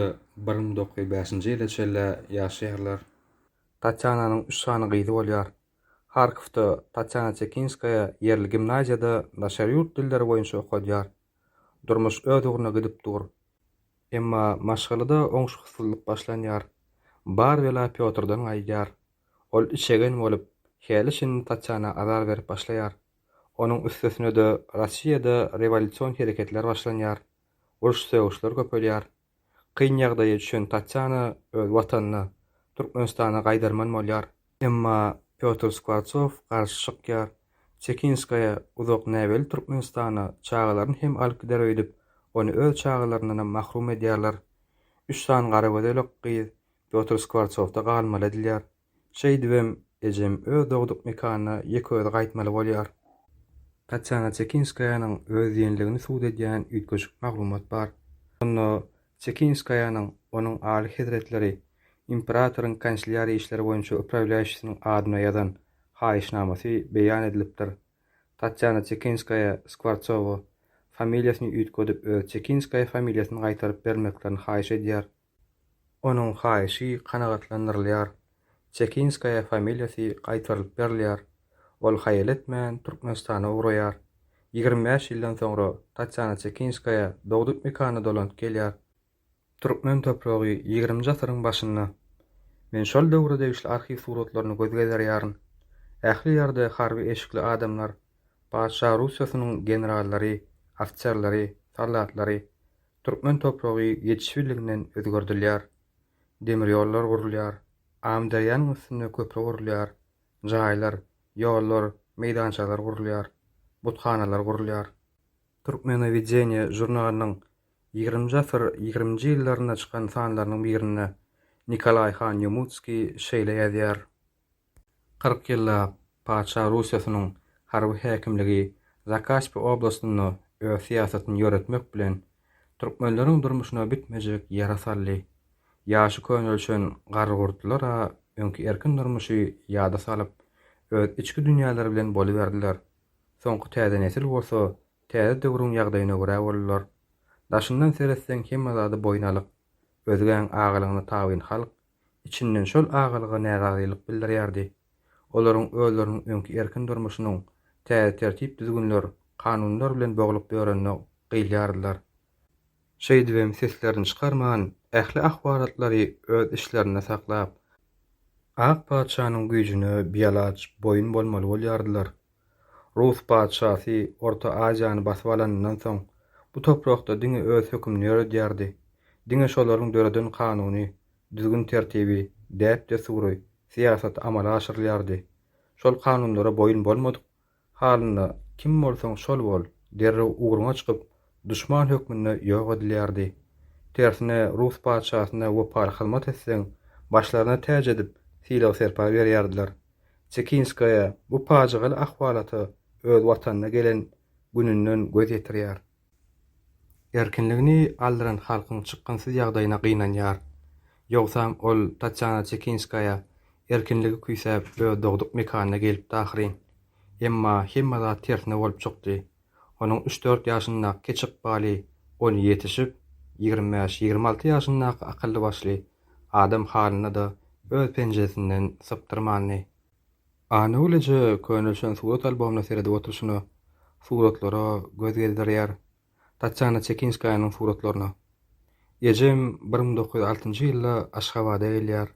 bir müň dokuz ýüz bäşinji ýyla çenli ýaşaýarlar. Tatýananyň üç sany gyzy bolýar. Harkowda Tatýana Çekinskaýa ýerli gimnaziýada daşary ýurt dilleri boýunça okadýar. Durmuş öz ugruna gidip dur. Emma maşgalada oňşuksyzlyk başlanýar. Bar bela Pýotrdan gaýdýar. Ol içegen bolup, häli-şindi Tatýana azar berip başlaýar. Onuň üstesine-de Rossiýada rewolýusion hereketler başlanýar. Uruş-sögüşler köpelýär. Kyn ýagdaýa düşen Tatýana öz watanyna, Türkmenistana gaýdarman bolýar. Emma Pýotr Skwortsow garşy çykýar. Çekinskaýa uzak näbelli Türkmenistana çagalaryny hem alyp gider öýdüp, ony öz çagalaryndanam mahrum edýärler. Üç sany garagözelek gyz Pýotr Skwortsowda galmaly edilýär. Şeýdibem, ejem öz dogduk mekanyna ýeke-özi gaýtmaly bolýar. Tatýana Çekinskaýanyň öz diýenligini subut edýän üýtgeşik maglumat bar. Onda Çekinskaýanyň onuň Aly hezretleri imperatoryň kanslýariýa işleri boýunça uprawlýaýşisiniň adyna ýazan haýyşnamasy beýan edilipdir. Tatýana Çekinskaýa Skwortsowa, familiýasyny üýtgedip öz Çekinskaýa familiýasyny gaýtaryp bermeklerini haýyş edýär. Onuň haýyşy kanagatlandyrylýar, Çekinskaýa familiýasy gaýtarylyp berilýär, ol haýal etmän Türkmenistana ugraýar. Ýigrimi bäş ýyldan soňra Tatýana Çekinskaýa dogduk mekanyna dolanyp gelýär. Türkmen topragy ýigriminji asyryň başynda. Men şol döwre degişli arhiw suratlaryny göz gezerýärin. Ähli ýerde harby eşikli adamlar, Patyşa Russiýasynyň generallary, ofiserleri, soldatlary, Türkmen topragy ýetişibliginden özgerdilýär. Demir ýollar gurulýar, Amyderýanyň üstünde köpri gurulýar, jaýlar, ýollar, meýdançalar gurulýar, buthanalar gurulýar. Türkmenowedeniýe žurnalynyň ýigriminji asyr ýigriminji ýyllarynda çykan sanlarynyň birinde Nikolaý han Ýomutskiý şeýle ýazýar, Kyrk ýyllap patyşa Russiýasynyň harby häkimligi Zakaspi oblastynda öz syýasatyny ýöretmek bilen, türkmenleriň durmuşyna bitmejek ýara saldy. Ýaşy könelişen garrygurtlular-a öňki erkin durmuşy ýada salyp, öz içki dünýäleri bilen boluberdiler. Soňky täze nesil bolsa täze döwrüň ýagdaýyna görä boldular. Daşyndan seretseň hemme zady boýun alyk, özgäň agalygyna tabyn halk Içinden şol agalyga närazylyk bildirýärdi. Olaryň özleriniň öňki erkin durmuşynyň täze tertip-düzgünler, kanunlar bilen boglup ýörenine gyýylýardylar. Şeýdibem seslerini çykarman, ähli ahwalatlary öz içlerinde saklap, Ak patyşanyň güýjüne bialaç boýun bolmaly bolýardylar. Rus patyşasy Orta Aziýany basyp alanyndan soň, bu toprakda diňe öz hökümini ýöredýärdi. Diňe şolaryň döreden kanuny, düzgün-tertibi, däp-dessury, syýasaty amala aşyrylýardy. Şol kanunlara boýun bolmadyk halynda, kim bolsaň şol bol, derrew ugruňa çykyp, duşman hökmünde ýok edilýärdi. Tersine, rus patyşasyna wepaly hyzmat etseň, başlaryna täç edip, sylag-serpa berýärdiler. Çekinskaýa bu pajygaly ahwalata öz watanyna gelen gününden göz ýetirýär. Erkinligini aldyran halkyň çykgynsyz ýagdaýyna gynanýar. Ýogsam ol Tatýana Çekinskaýa erkinligi küýsäp öz dogduk mekanyna gelipdi ahyryn. Emma hemme zat tersine bolup çykdy. Onuň üç-dört ýaşyndaky kiçi ykbaly ony ýetişip, ýigrimi bäş, ýigrimi alty ýaşyndaky akylly-başly adam halyny-da öz penjesinden sypdyrmandy. Anagül eje könelişen surat albomyna seredip oturyşyna, suratlara göz gezdirýär, Tatýana Çekinskaýanyň suratlaryna. Ejem bir müň dokuz ýüz altynjy ýylda Aşgabada gelýär.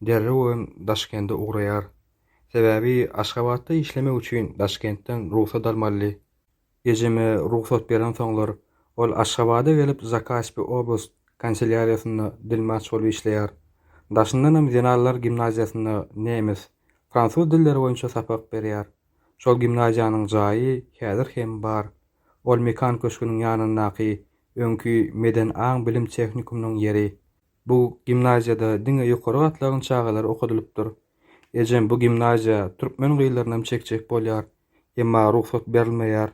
Derrew hem Daşkende ugraýar. Sebäbi Aşgabatda işlemek üçin Daşkentden rugsat almalydy. Ejeme rugsat berensoňlar, ol Aşgabada gelip Zakaspi oblast kanselýariýasynda dilmaç bolup işleýär. Daşyndanam zenanlar gimnaziýasynda nemes, fransuz dilleri boýunça sapak berýär. Şol gimnaziýanyň jaýy häzir hem bar. Ol Mekan köşgüniň ýanyndaky öňki Meden aň-bilim tehnikumynyň ýeri. Bu gimnaziýada diňe ýokary gatlagyň çagalary okadylypdyr. Ejem bu gimnaziýa türkmen gyzlarynam çekjek bolýar, emma rugsat berilmeýär.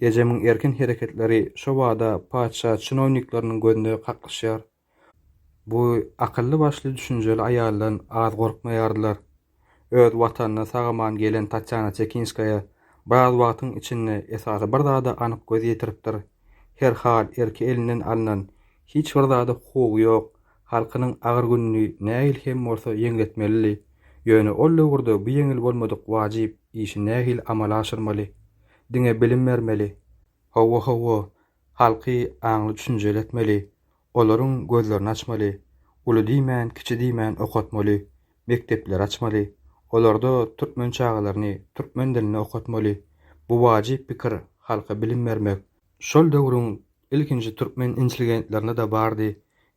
Ejemiň erkin hereketleri şobada patyşa çinownikleriniň gözüne kaklyşýar. Bu akylly-başly düşünjeli aýaldan az gorkmaýardylar. öz watanyna sag-aman gelen Tatýana Çekinskaýa biraz wagtyň içinde esasy bir zada anyk göz ýetiripdir, her hal erki elinden alnan, hiç bir zada hukugy ýok halkynyň agyr gününi nähili hem bolsa ýeňletmelidi, ýöne ol döwürde bu ýeňil bolmadyk wajyp işi nähili amala aşyrmaly? Diňe bilim bermeli. Hawa, hawa, halky aňly-düşünjeli etmeli. Olaryň gözlerini açmaly, uly diýmän, kiçi diýmän okatmaly, mekdepleri açmaly, olarda türkmen çagalaryny türkmen dilinde okatmaly. Bu wajyp pikir, halka bilim bermek. Şol döwrüň ilkinji türkmen intelligentlerinde-de bardy,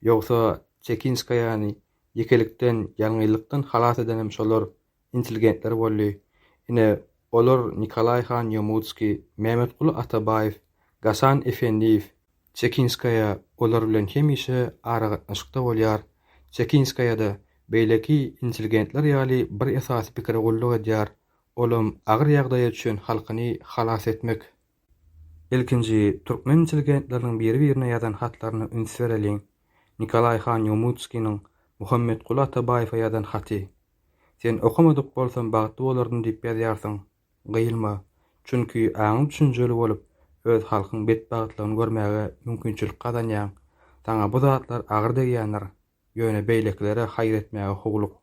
ýogsa Çekinskaýany ýekelikden, ýalňyzlykdan halas edenem şolar, intelligentler boldy. Ine, olar Nikolaý han Ýomudskiý, Mämmetguly Atabaýew, Gasan Efendiýew, Çekinskaýa olar bilen hemişe aragatnaşykda bolýar. Çekinskaýa-da, beýleki intelligentler ýaly bir esasy pikire gulluk edýär, olam agyr ýagdaýa düşen halkyny halas etmek. Ilkinji türkmen intelligentleriniň biri-birine ýazan hatlaryna üns bereliň. Nikolaý han Ýomudskiniň Muhammetguly Atabaýewe ýazan haty. Sen okamadyk bolsam bagtly bolardym diýip ýazýarsyň. Gyýylma. Çünki aňyň düşünjeli bolup, öz halkyň betbagtlygyny görmäge mümkinçilik gazanýaň. Saňa bu zatlar agyr degýändir. Ýöne beýlekilere haýyr etmäge howluk.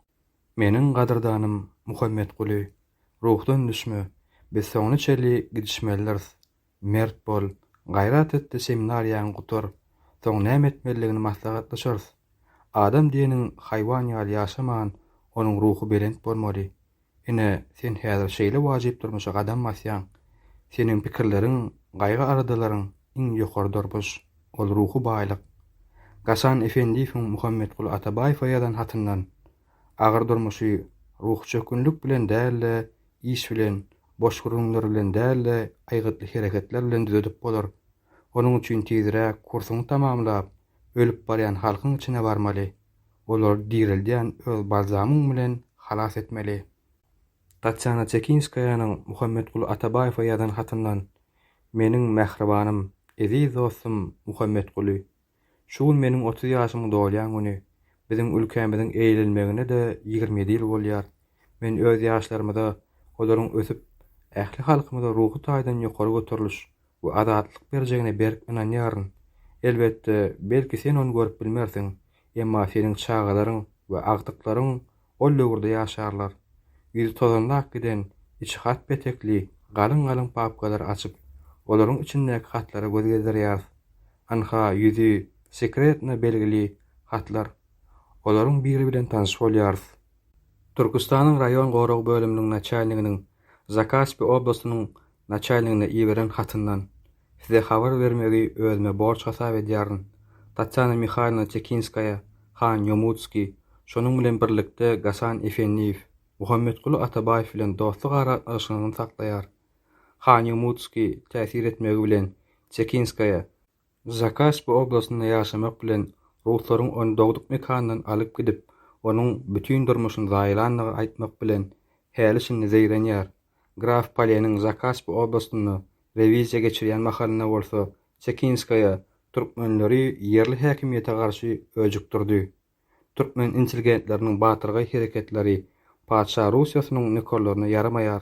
Meniň gadyrdanym Muhammetguly, ruhdan düşme. Biz soňuna çenli gidişmelidiris. mert bol, gaýrat et-de seminariýaňy gutar, soň näme etmelidigini maslahatlaşarys. Adam diýeniň haýwan ýaly ýaşaman, onuň ruhy belent bolmaly. Ine, sen häzir şeýle wajyp durmuşa gadam basýaň. Seniň pikirleriň, gaýgy-aladalaryň iň ýokary durmuş, ol ruhy baýlyk. Gasan Efendiýewiň Muhammetguly Atabaýewe ýazan hatyndan. agyr durmuşy ruhy çökgünlik bilen däl-de, iş bilen, boş gürrüňler bilen däl-de, aýgytly hereketler bilen düzedip bolar. Onuň üçin tiziräk kursuňy tamamlap, ölüp barýan halkyň içine barmaly, olary direldýän öz balzamyň bilen halas etmeli. Tatýana Çekinskaýanyň Muhammetguly Atabaýewe ýazan hatyndan, Meniň mähribanym, eziz dostum Muhammetguly, Şu gün meniň otuz ýaşymy dolýan güni. Biziň ülkämiziň eýlenmegine-de ýigrimi ýedi ýyl bolýar. Men öz ýaşlarymyza olaryň ösüp, ähli halkymyza ruhy taýdan ýokary göteriliş we azatlyk berjegine berk ynanýaryn. Elbetde, belki sen ony görüp bilmersiň, emma seniň çagalaryň we agtyklaryň ol döwürde ýaşarlar. Ýüzi tozanlap giden, içi hat petekli, galyň-galyň papkalary açyp, olaryň içindäki hatlara göz gezdirýäris. Ynha, ýüzi sekretno belgili hatlar. Olaryň biri bilen tanyş bolýarys. Türküstanyň raýon gorag bölüminiň naçalniginiň Zakaspi oblastynyň naçalnigine iberen hatyndan. Size habar bermegi özüme borç hasap edýärin. Tatýana Mihaýlowna Çekinskaýa, han Ýomutskiý, şonuň bilen birlikde Gasan Efendiýew, Muhammetguly Atabaýew bilen dostluk aragatnaşygyny saklaýar. Han Ýomutskiý täsir etmegi bilen Çekinskaýa, Zakaspy oblastynda ýaşamak bilen ruslaryň ony dogduk mekanyndan alyp gidip, onuň bütin durmuşyny zaýalandygy aýtmak bilen, häli-şindi zeýrenýär. Graf Paleniň Zakasp oblastynda rewiziýa geçirýän mahalynda bolsa Çekinskaýa türkmenleri ýerli häkimiýete garşy öjükdirdi. Türkmen intelligentleriniň batyrgaý hereketleri Patyşa Russiýasynyň nökerlerine ýaramaýar.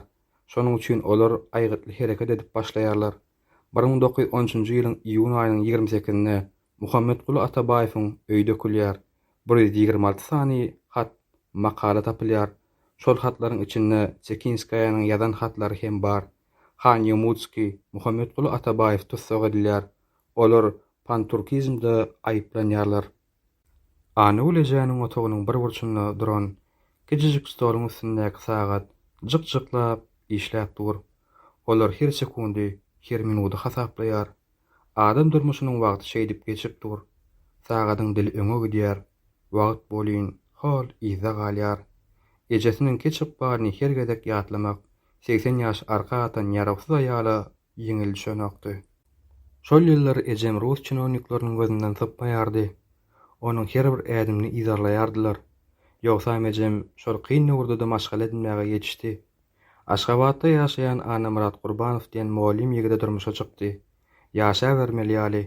Şonuň üçin olar aýgytly hereket edip başlaýarlar. Bir müň dokuz ýüz on üçünji ýylyň iýun aýynyň ýigrimi sekizinde Muhammetguly Atabaýewiň öýi dökülýär, bir ýüz ýigrimi alty sany hat, makala tapylýar, şol hatlaryň içinde Çekinskaýanyň ýazan hatlary hem bar. Han Ýomudskiý, Muhammetguly Atabaýew tussag edilýär, olar panturkizmde aýyplanýarlar. Anagül ejäniň otagynyň bir burçunda duran kijijik stoluň üstündäki sagat jyk-jyklap işläp dur. Olar her sekundy, her minudy hasaplaýar. Adam durmuşynyň wagty şeýdip geçip dur. Sagadyň dili öňe gidýär. Wagt bolýyn, hol, yzda galýar. Ejesiniňki çykbaryny her gezek ýatlamak segsen ýaş arka atan ýarawsyz aýala ýeňil düşenokdy. Şol ýyllar ejem rus çinownikleriniň gözünden sypmaýardy. Onuň her bir ädimini yzarlaýardylar. Ýogsam ejem şol kyn döwürde-de maşgala edinmäge ýetişdi. Aşgabatda ýaşaýan Annamyrat Gurbanow diýen mugallym ýigide durmuşa çykdy. Ýaşabermeli ýaly,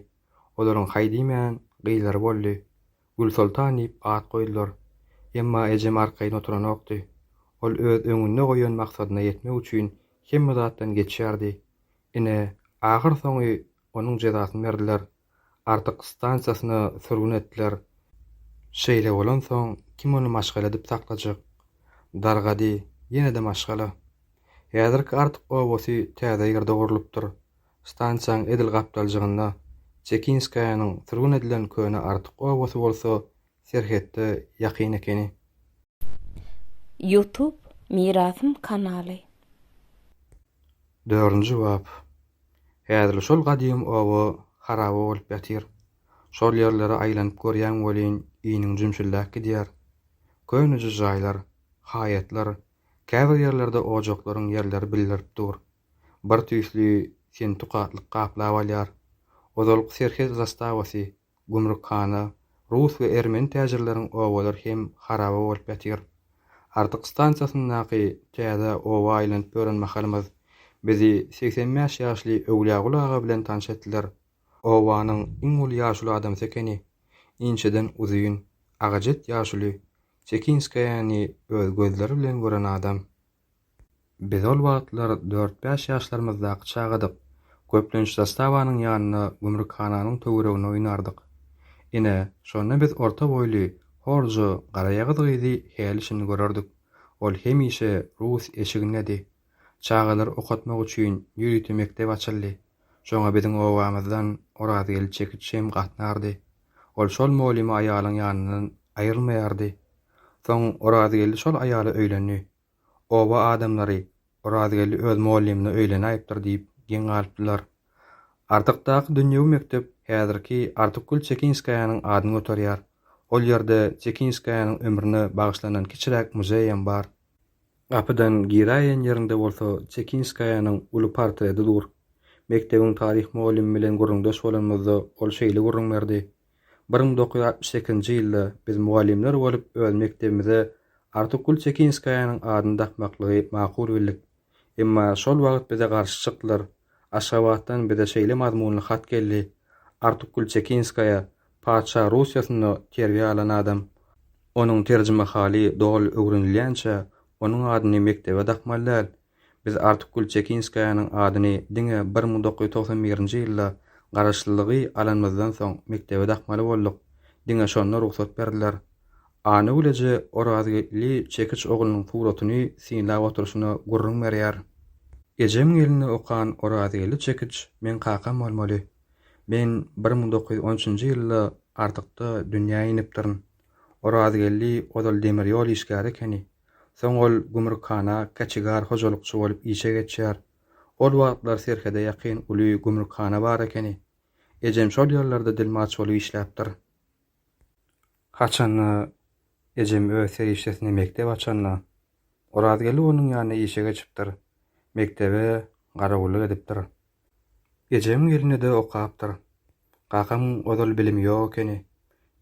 olaryň haý diýmän, gyzlary boldy. Gülsoltan diýip at goýdular. Emma ejem arkaýyn oturanokdy. Ol öz öňünde goýan maksadyna ýetmek üçin hemme zatdan geçýärdi. Ine, ahyrsoňy onuň jezasyny berdiler. Artyk stansiýasyna sürgün etdiler. Şeýle bolansoň, kim ony maşgala edip saklajak? Dargady, ýene-de maşgala. Häzirki Artyk obasy täze ýerde gurlupdyr. Stansiýaň edil gapdaljygynda Çekinskaýanyň sürgün edilen köne Artyk obasy bolsa serhetde ýakyn ekeni. Youtube mirasym kanaly. Dördünji bap. Häzirli şol gadym oba haraba bolup ýatyr. Şol ýerlere aýlanyp görýäň welin iniň jümşüldäp gidýär. Köneje jaýlar, haýatlar, käbir ýerlerde ojaklaryň ýerleri bildirip dur. Bir tüýsli sinti gatlyk gaplap alýar. Ozalky serhet zastawasy gümrükhana, rus we ermeni täjirleriň obalar hem haraba bolup ýatyr. Artyk stansiýasyndaky täze oba aýlanyp ýören mahalymyz bizi segsen bäş ýaşly Öwlýagul aga bilen tanyş etdiler. Obanyň iň uly ýaşuly adamsy ekeni. Inçeden uzyn, agajet ýaşuly, Çekinskaýany öz gözleri bilen gören adam. Biz ol wagtlar dört-bäş ýaşlarymyzdaky çagadyk. Köplenç zastawanyň ýanynda gümrükhananyň töwereginde oýnardyk. Ine, şonda biz orta boýly, horja, garaýagyz gyzy häli-şindi görerdik. Ol hemişe rus eşigindedi. Çagalary okatmak üçin ýörite mekdep açyldy. Şoňa biziň obamyzdan Orazgeldi çekiç hem gatnardy. Ol şol molyma aýalyň ýanyndan aýrylmaýardy. Soň Orazgeldi şol aýala öýlendi. Oba adamlary Orazgeldi öz molymyna öýlenäýipdir diýip geň galypdylar. Artykdaky dünýewi mekdep häzirki Artykgül Çekinskaýanyň adyny göterýär. Ol ýerde Çekinskaýanyň ömrüne bagyşlanan kiçiräk muzeýem bar. Gapydan giräýen ýerinde bolsa Çekinskaýanyň uly portreti dur. Mekdebiň taryh mugallymy bilen gürrüňdeş bolanymyzda ol şeýle gürrüň berdi, Bir müň dokuz ýüz altmyş sekizinji ýylda biz mugallymlar bolup öz mekdebimize Artykgül Çekinskaýanyň adyny dakmaklygy makul bildik. Emma şol wagt bize garşy çykdylar. Aşgabatdan bize şeýle mazmunly hat geldi, Artykgül Çekinskaýa Patyşa Russiýasynda terbiýe alan adam. Onuň terjimehaly doly öwrenilýänçä, onuň adyny mekdebe dakmaly däl. Biz Artyk Gülçekinskaýanyň adyny diňe bir müň dokuz ýüz togsan birinji ýylda garaşlylygy alanymyzdan soň mekdebe dakmaly bolduk. Diňe şonda rugsat berdiler. Anygül eje Orazgeldi çekiç oglunyň suratyny synlap oturyşyna gürrüň berýär. Ejem gelini okan Orazgeldi çekiç meň kakam bolmaly. Men bir müň dokuz ýüz on üçünji ýylda Artykda dünýä inipdirin. Orazgeldi ozal demir ýol işgäri ekeni. Soň ol gümrükhana käçigar hojalykçy bolup işe geçýär. Ol wagtlar serhede ýakyn uly gümrükhana bar ekeni. Ejem şol ýerlerde dilmaç bolup işläpdir. Haçanda ejem öz serişdesine mekdep açanda, Orazgeldi onuň ýanyna işe geçipdir. Mekdebe garawullyk edipdir. Ejegiň elinde-de okapdyr. Kakamyň ozal bilimi ýok ekeni.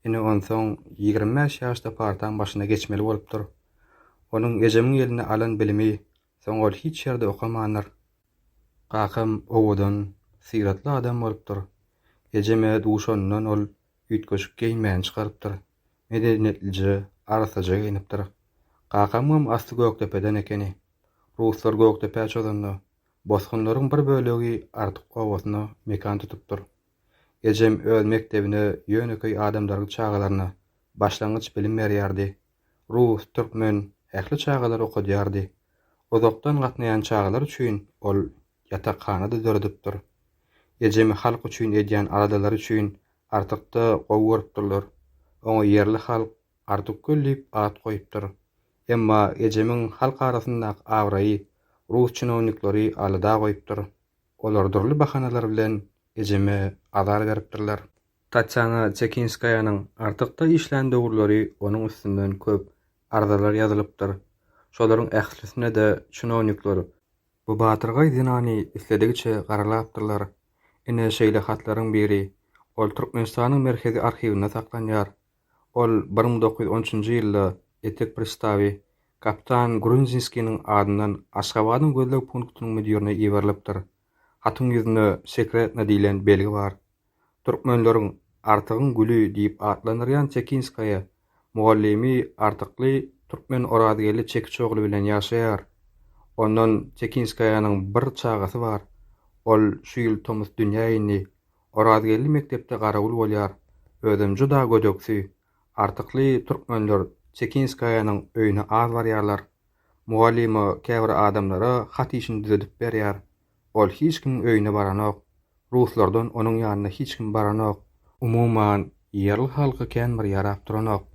Ine onsoň ýigrimi bäş ýaşda partaň başyna geçmeli bolupdyr. Onuň ejemiň elinde alan bilimi, soň ol hiç ýerde okamandyr. Kakam owadan, syratly adam bolupdyr. Ejeme duşanyndan ol üýtgeşik geýinmäni çykarypdyr. Medeniýetlije, arassaja geýnipdir. Kakamyňam asly Gökdepeden ekeni. Ruslar Gökdepä çozanda, Bosgunlaryň bir bölegi Artyk obasynda mekan tutupdyr. Ejem öz mekdebine ýönekeý adamdaryň çagalaryna başlangyç bilim berýärdi. Rus, türkmen, ähli çagalary okadýardy. Uzakdan gatnaýan çagalar üçin ol ýatakhana-da döredipdir. Ejemi halk üçin edýän aladalary üçin Artykda gowy görüpdirler. Oňa ýerli halk Artykgöl diýip at goýupdyr. Emma ejemiň halk arasyndaky abraýy rus çinownikleri alada goýupdyr. Olar dürli bahanalar bilen ejeme azar beripdirler. Tatýana Çekinskaýanyň artykda işlän döwürleri onuň üstünden köp arzalar ýazylypdyr. Şolaryň ählisine-de çinownikler. Bu batyrgaý zenany isledigiçe garalapdyrlar. Ine, şeýle hatlaryň biri, ol Türkmenistanyň Merkezi arhiwinde saklanýar. Ol bir müň dokuz ýüz on üçünji ýylda etek pristawy kapitan Grunzinskiniň adyndan Aşgabadyň gözleg punktynyň müdirine iberilipdir. Hatyň ýüzünde Sekretno diýlen belgi bar. Türkmenleriň Artygyň güli diýip atlandyrýan Tekinskaýa mugallymy Artykly türkmen Orazgeldi Çekiç ogly bilen ýaşaýar. Ondan Tekinskaýanyň bir çagasy bar. Ol şu ýyl tomus dünýä indi. Orazgeldi mekdepde garawul bolýar. Özem juda gödeksi. Artykly türkmenler Çekinskaýanyň öýüne az barýarlar. Mugallyma käbir adamlara hat işini düzedip berýär. Ol hiç kimiň öýüne baranok. Ruslardan onuň ýanyna hiç kim baranok. Umuman, ýerli halky kän bir ýarap duranok.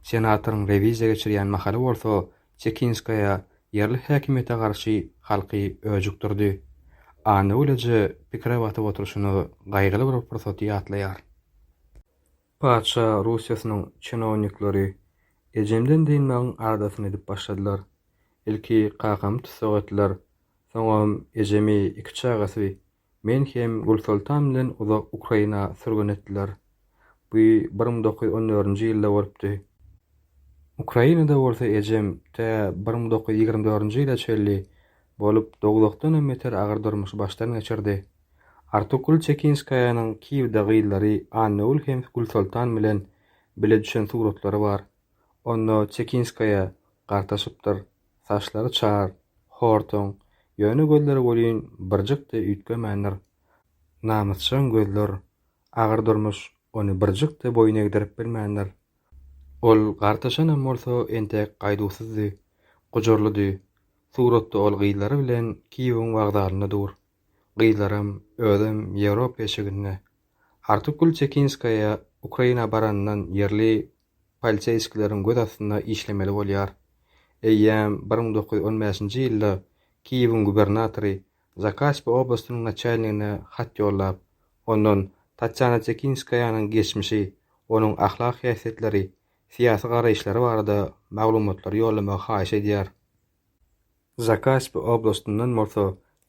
Senatoryň rewiziýa geçirýän mahaly bolsa, Çekinskaýa ýerli häkimiýete garşy halky öjükdirdi. Annewilije pikire batyp oturyşyna gaýgyly bir pursaty ýatlaýar. Patyşa Russiýasynyň çinownikleri ejemden dynmagyň adasyny edip başladylar. Ilki kakamy tussag etdiler, soňam ejemi, iki çagasy Men hem Gülsoltan bilen uzak Ukraina sürgün etdiler. Bu bir müň dokuz ýüz on dördünji ýylda bolupdy. Ukrainada bolsa ejem tä bir müň dokuz ýüz ýigrimi dördünji ýyla çenli bolup dogdakdan hem beter agyr durmuşy başdan geçirdi. Artukgül Çekinskaýanyň Kiýewde gyzlary Annagül hem Gülsoltan bilen bile düşen suratlary bar. Onda Çekinskaýa gartaşypdyr, Saçlary çar, hortoň, ýöne gözleri welin birjik-de üýtgemändir. Namysjaň gözler, agyr durmuş ony birjik-de boýun egdirip bilmändir. Ol gartaşanam bolsa entek gaýduwsyzdy, gujurlydy. Suratda ol gyzlary bilen Kiýewiň wokzalynda dur. Gyzlaram, özem Ýewropa eşiginde. Artykgül Çekinskaýa Ukraina baranyndan ýerli polisiýskileriň göz astynda işlemeli bolýar. Eýýäm bir müň dokuz ýüz on bäşinji ýylda Kiýewiň gubernatory Zakaspi oblastynyň naçalnigine hat ýollap, ondan Tatýana Tekinskaýanyň geçmişi, onuň ahlak häsiýetleri, syýasy garaýyşlary barada maglumatlary ýollamagy haýyş edýär. Zakaspi oblastyndan bolsa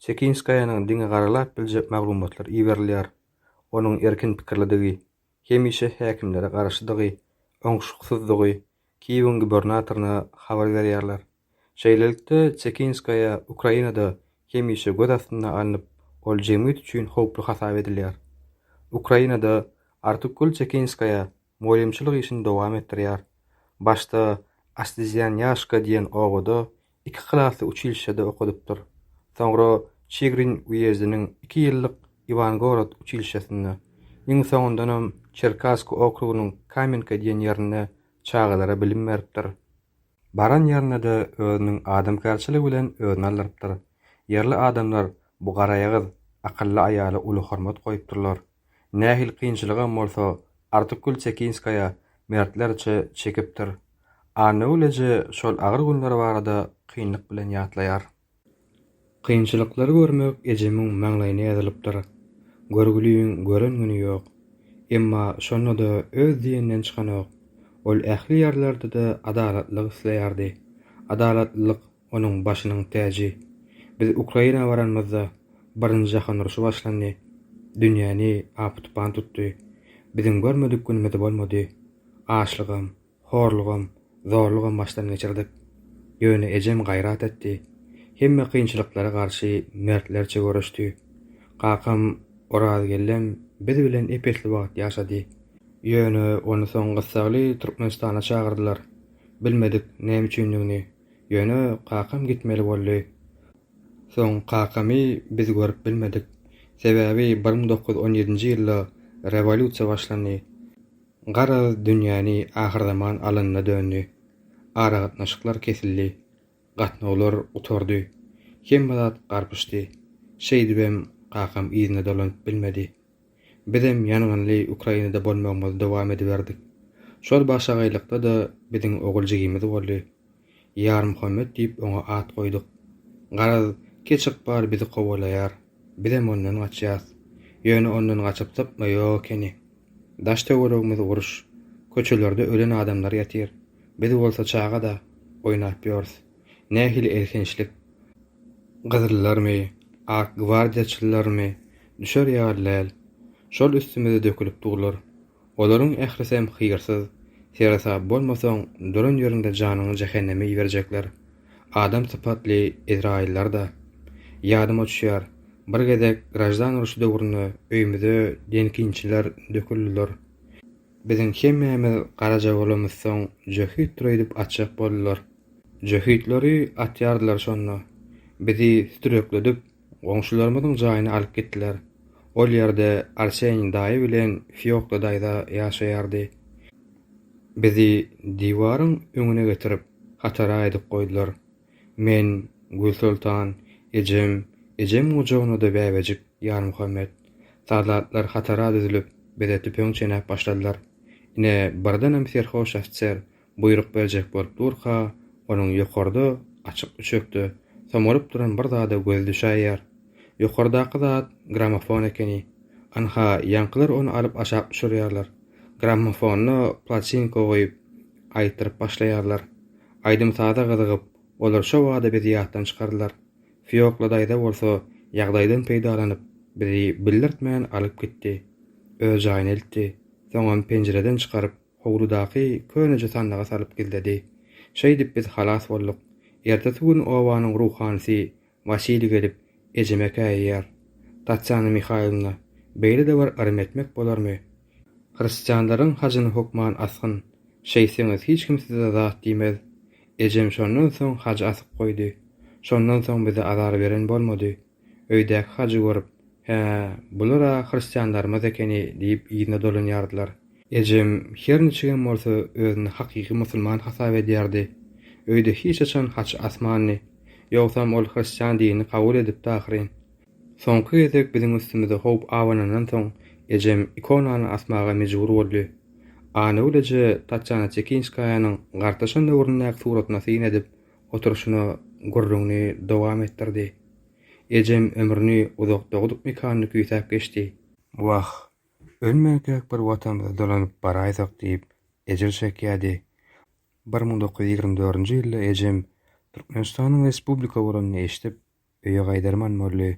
Tekinskaýanyň diňe garalap biljek maglumatlar iberilýär, onuň erkin pikirlidigi, hemişe häkimlere garşydygy, oňşuksyzdygy Kiýewiň gubernatoryna habar berýärler. Şeýlelikde, Çekinskaýa Ukrainada hemişe göz astynda alnyp, ol jemgyýet üçin howply hasap edilýär. Ukrainada Artukgül Çekinskaýa mugallymçylyk işini dowam etdirýär. Başda Astezýanýaşka diýen obada iki klasy uçilişşede okadypdyr. Soňra Çigrin uýezdiniň iki ýyllyk Iwangorod uçilişşesinde, iň soňundanam Çerkassky okrugynyň Kamenka diýen ýerinde çagalara bilim beripdir. Baran ýerinde-de özüniň adamkärçiligi bilen özüni aldyrypdyr. Ýerli adamlar bu garaýagyz, akylly aýala uly hormat goýupdyrlar. Nähili kynçylygam bolsa, Artykgül Çekinskaýa mertlerçe çekipdir. Annagül eje şol agyr günleri barada kynlyk bilen ýatlaýar. Kynçylyklary görmek ejemiň maňlaýyna ýazylypdyr. Görgüliň gören güni ýok. Emma şonda-da öz diýeninden çykanok. Ol ähli ýerlerde-de adalatlylyk isleýärdi. Adalatlylyk onuň başynyň täji. Biz Ukraina baranymyzda birinji jahan urşy başlandy, dünýäni apy-tupan tutdy. Biziň görmedik günümiz bolmady. Açlygam, horlugam, zorlugam başdan geçirdik. Ýöne ejem gaýrat etdi. Hemme kynçylyklara garşy mertlerçe göreşdi. Kakam Orazgellem biz bilen ep-esli wagt ýaşady. Ýöne ony soň gyssagly Türkmenistana çagyrdylar. Bilmedik näme üçindigini. Ýöne kakam gitmeli boldy. Soň kakamy biz görüp bilmedik. Sebäbi bir müň dokuz ýüz on ýedinji ýylda rewolýusiýa başlandy. Garaz, dünýäni ahyrzaman alanyna döndi. Aragatnaşyklar kesildi. Gatnawlar gutardy. Hemme zat garpyşdy. Şeýdibem kakam yzyna dolanyp bilmedi. Bizem ýangynly Ukrainada bolmagymyzy dowam ediberdik. Şol başagaýlykda-da biziň ogul jigimiz boldy. Ýarmuhammet diýip oňa at goýduk. Garaz, kiç ykbal bizi kowalaýar. Bizem ondan gaçýas. Ýöne ondan gaçyp sypma ýok ekeni. Daş-töweregimiz uruş. Köçelerde ölen adamlar ýatyr. Biz bolsa çaga-da, oýnap ýörüs. Nähili elhençlik! Gyzyllarmy, ak gwardiýaçylarmy, düşer ýaly däl. Şol üstümize dökülip durlar. Olaryň ählisem hyýrsyz, seresap bolmasaň duran ýeriňde janyňy jähenneme iberjekler. Adam sypatly ezraýyllar-da. Ýadyma düşýär, bir gezek graždan urşy döwründe öýümize denkinçiler döküldiler. Biziň hemmämiz garaja bolamyzsoň jöhit dureýdip atjak boldular. Jöhitleri atýardylar şonda. Bizi sütürekledip, goňşularymyzyň jaýyna alyp gitdiler. Ol ýerde Arseň daýy bilen Fiokla daýza ýaşaýardy. Bizi diwaryň öňüne getirip, hatara aýdyp goýdular. Men, Gülsoltan, ejem, ejem gujagynada bäbejik Ýarmuhammet. Soldatlar hatara düzülip, bize tüpeň çenäp başladylar. Ine, birdenem serhoş ofiser buýruk berjek bolup durka, onuň ýokarda, açyk üçekde, somalyp duran bir zada gözi düşäýýär. Ýokardaky zat grammofon ekeni. Ynha, ýaňkylar ony alyp aşak düşürýärler. Grammofonda platinka goýup, Aýtdyryp başlaýarlar. Aýdym-saza gyzygyp, olar şo bada bizi ýatdan çykardylar. Fiokla daýza bolsa ýagdaýdan peýdalanyp, bizi bildirtmän alyp gitdi. Öz jaýyna eltdi. Soňam penjireden çykaryp, howludaky köneje sandyga salyp gizledi. Şeýdip biz halas bolduk. Ertesi gün obanyň ruhanysy Wasiliý gelip, ejeme käýýär. Tatýana Mihaýlowna, beýle-de bir yrym etmek bolarmy? Hristianlaryň hajyny hökman asgyn, şeýtseňiz hiç kim size zat diýmez. Ejem şondan soň hajy asyp goýdy. Şondan soň bize azar beren bolmady. Öýdäki hajy görüp, Hä, bular-a hristianlarymyz ekeni diýip yzyna dolanýardylar. Ejem her niçigem bolsa özüni hakyky musulman hasap edýärdi. Öýde hiç haçan haç asmandy. Ýogsam ol hristian dinini kabul edipdi ahyryn. Soňky gezek biziň üstümize howp abanandan soň ejem ikonany asmaga mejbur boldy. Anagül eje Tatýana Tekinskaýanyň gartaşan döwründäki suratyna syn edip oturyşyna gürrüňini dowam etdirdi. Ejem ömrüni uzak dogduk mekanda küýsäp geçdi. Wah, Ölmänkäk bir Watanymyza dolanyp baraýsak diýip, ejir çekýärdi. Bir müň dokuz ýüz ýigrimi dördünji ýylda ejem Türkmenistanyň respublika bolanyny eşidip, öýe gaýdarman boldy.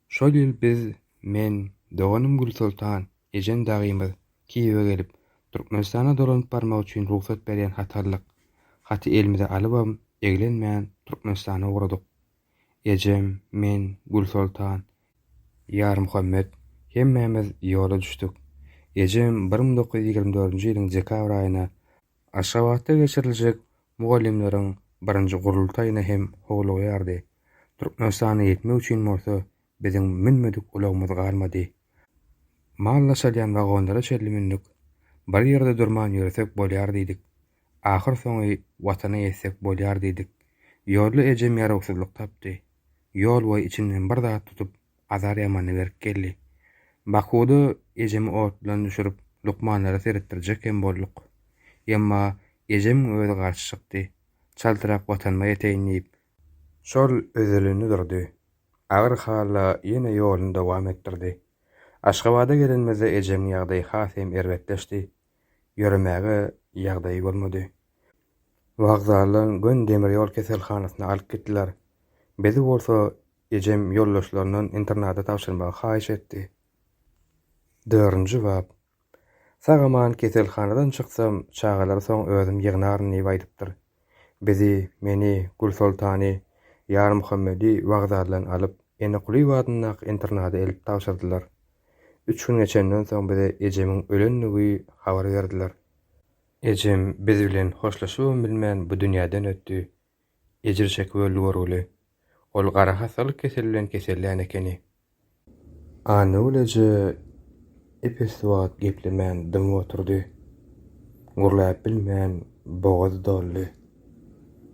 Şol ýyl biz, men, doganym Gülsoltan, ejem dagymyz, Kiýewe gelip, Türkmenistana dolanyp barmak üçin rugsat berýän hat aldyk. Haty elimize alybam, eglenmän, Türkmenistana ugradyk. ejem, men, Gülsoltan, Ýarmuhammet hemmämiz ýola düşdük. Ejem bir müň dokuz ýüz ýigrimi dördünji ýylyň dekabr aýyna Aşgabatda geçiriljek mugallymlaryň birinji gurultaýyna hem howlugýardy, Türkmenistana ýetmek üçin bolsa Biziň münmedik ulagymyz galmady. Mal daşalýan wagonlara çenli mündük. Bir ýerde durman ýöresek bolýar diýdik. Ahyrsoňy Watana ýetsek bolýar diýdik. Ýolda ejem ýarawsyzlyk tapdy. Ýolboýy içinden bir zat tutup, azar ýamana berk geldi. Bakuwda ejemi otdan düşürip, lukmanlara seretdirjek hem bolduk. Emma ejemiň özi garşy çykdy. Çaltrak Watanyma ýeteýin diýip, Şol üzülini durdy. Agyr hala ýene ýoluny dowam etdirdi. Aşgabada gelenimizde ejemiň ýagdaýy has hem erbetleşdi. Ýöremäge ýagdaýy bolmady. Wokzaldan göni demir ýol keselhanasyna alyp gitdiler. Bizi bolsa ejem ýoldaşlaryndan internada tabşyrmagy haýyş etdi. Dördünji bap. Sag-aman keselhanadan çyksam, çagalary soň özüm ýygnaryn diýip aýdypdyr. Bizi, meni, Gülsoltany, Ýarmuhammedi wokzaldan alyp, Enekulyýew adyndaky internada elip tabşyrdylar. Üç gün geçenden soň bize ejemiň ölendigi habar berdiler. Ejem biz bilen hoşlaşybam bilmän bu dünýäden ötdi. Ejir çekip öldi görgüli. Ol gara hassalyk keseli bilen kesellän ekeni. Annagül eje ep-esli wagt geplemän dymyp oturdy. Gürläp bilmän bogazy doldy.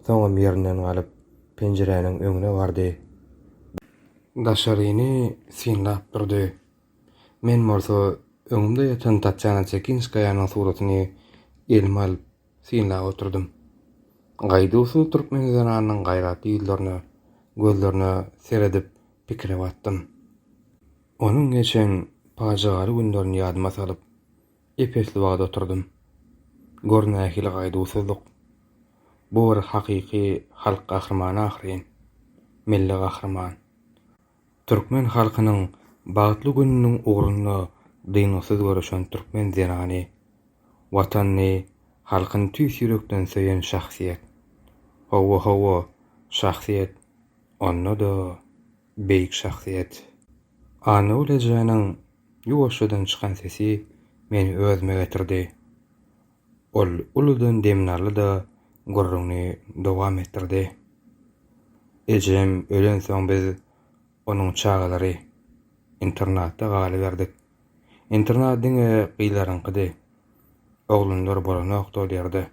Soňam ýerinden galyp, penjiräniň öňüne bardy. Daşaryny synlap durdy. Men bolsa öňümde ýatan Tatýana Çekinskaýanyň suratyny elime alyp, synlap oturdym. Gaýduwsyz türkmen zenanynyň gaýratly ýüzlerine, gözlerine seredip pikire batdym. Onuň geçen pajygaly günlerini ýadyma salyp, ep-esli wagt oturdym. Gör nähili gaýduwsyzlyk! Bu bir hakyky halk gahrymany ahyryn. Milli gahryman. Türkmen halkynyň bagtly gününiň ugrunda dyngysyz göreşen türkmen zenany, Watanyny, halkyny tüýs ýürekden söýen şahsyýet. Hawa-hawa, şahsyýet, onda-da beýik şahsyýet. Annagül ejäniň ýuwaşjadan çykan sesi meni özüme getirdi. Ol uludan demini aldy-da, gürrüňini dowam etdirdi. Ejem ölensoň biz, onuň çagalary, internatda galyberdik. Internat diňe gyzlaryňkydy. Oglanlar bolanokdy ol ýerde.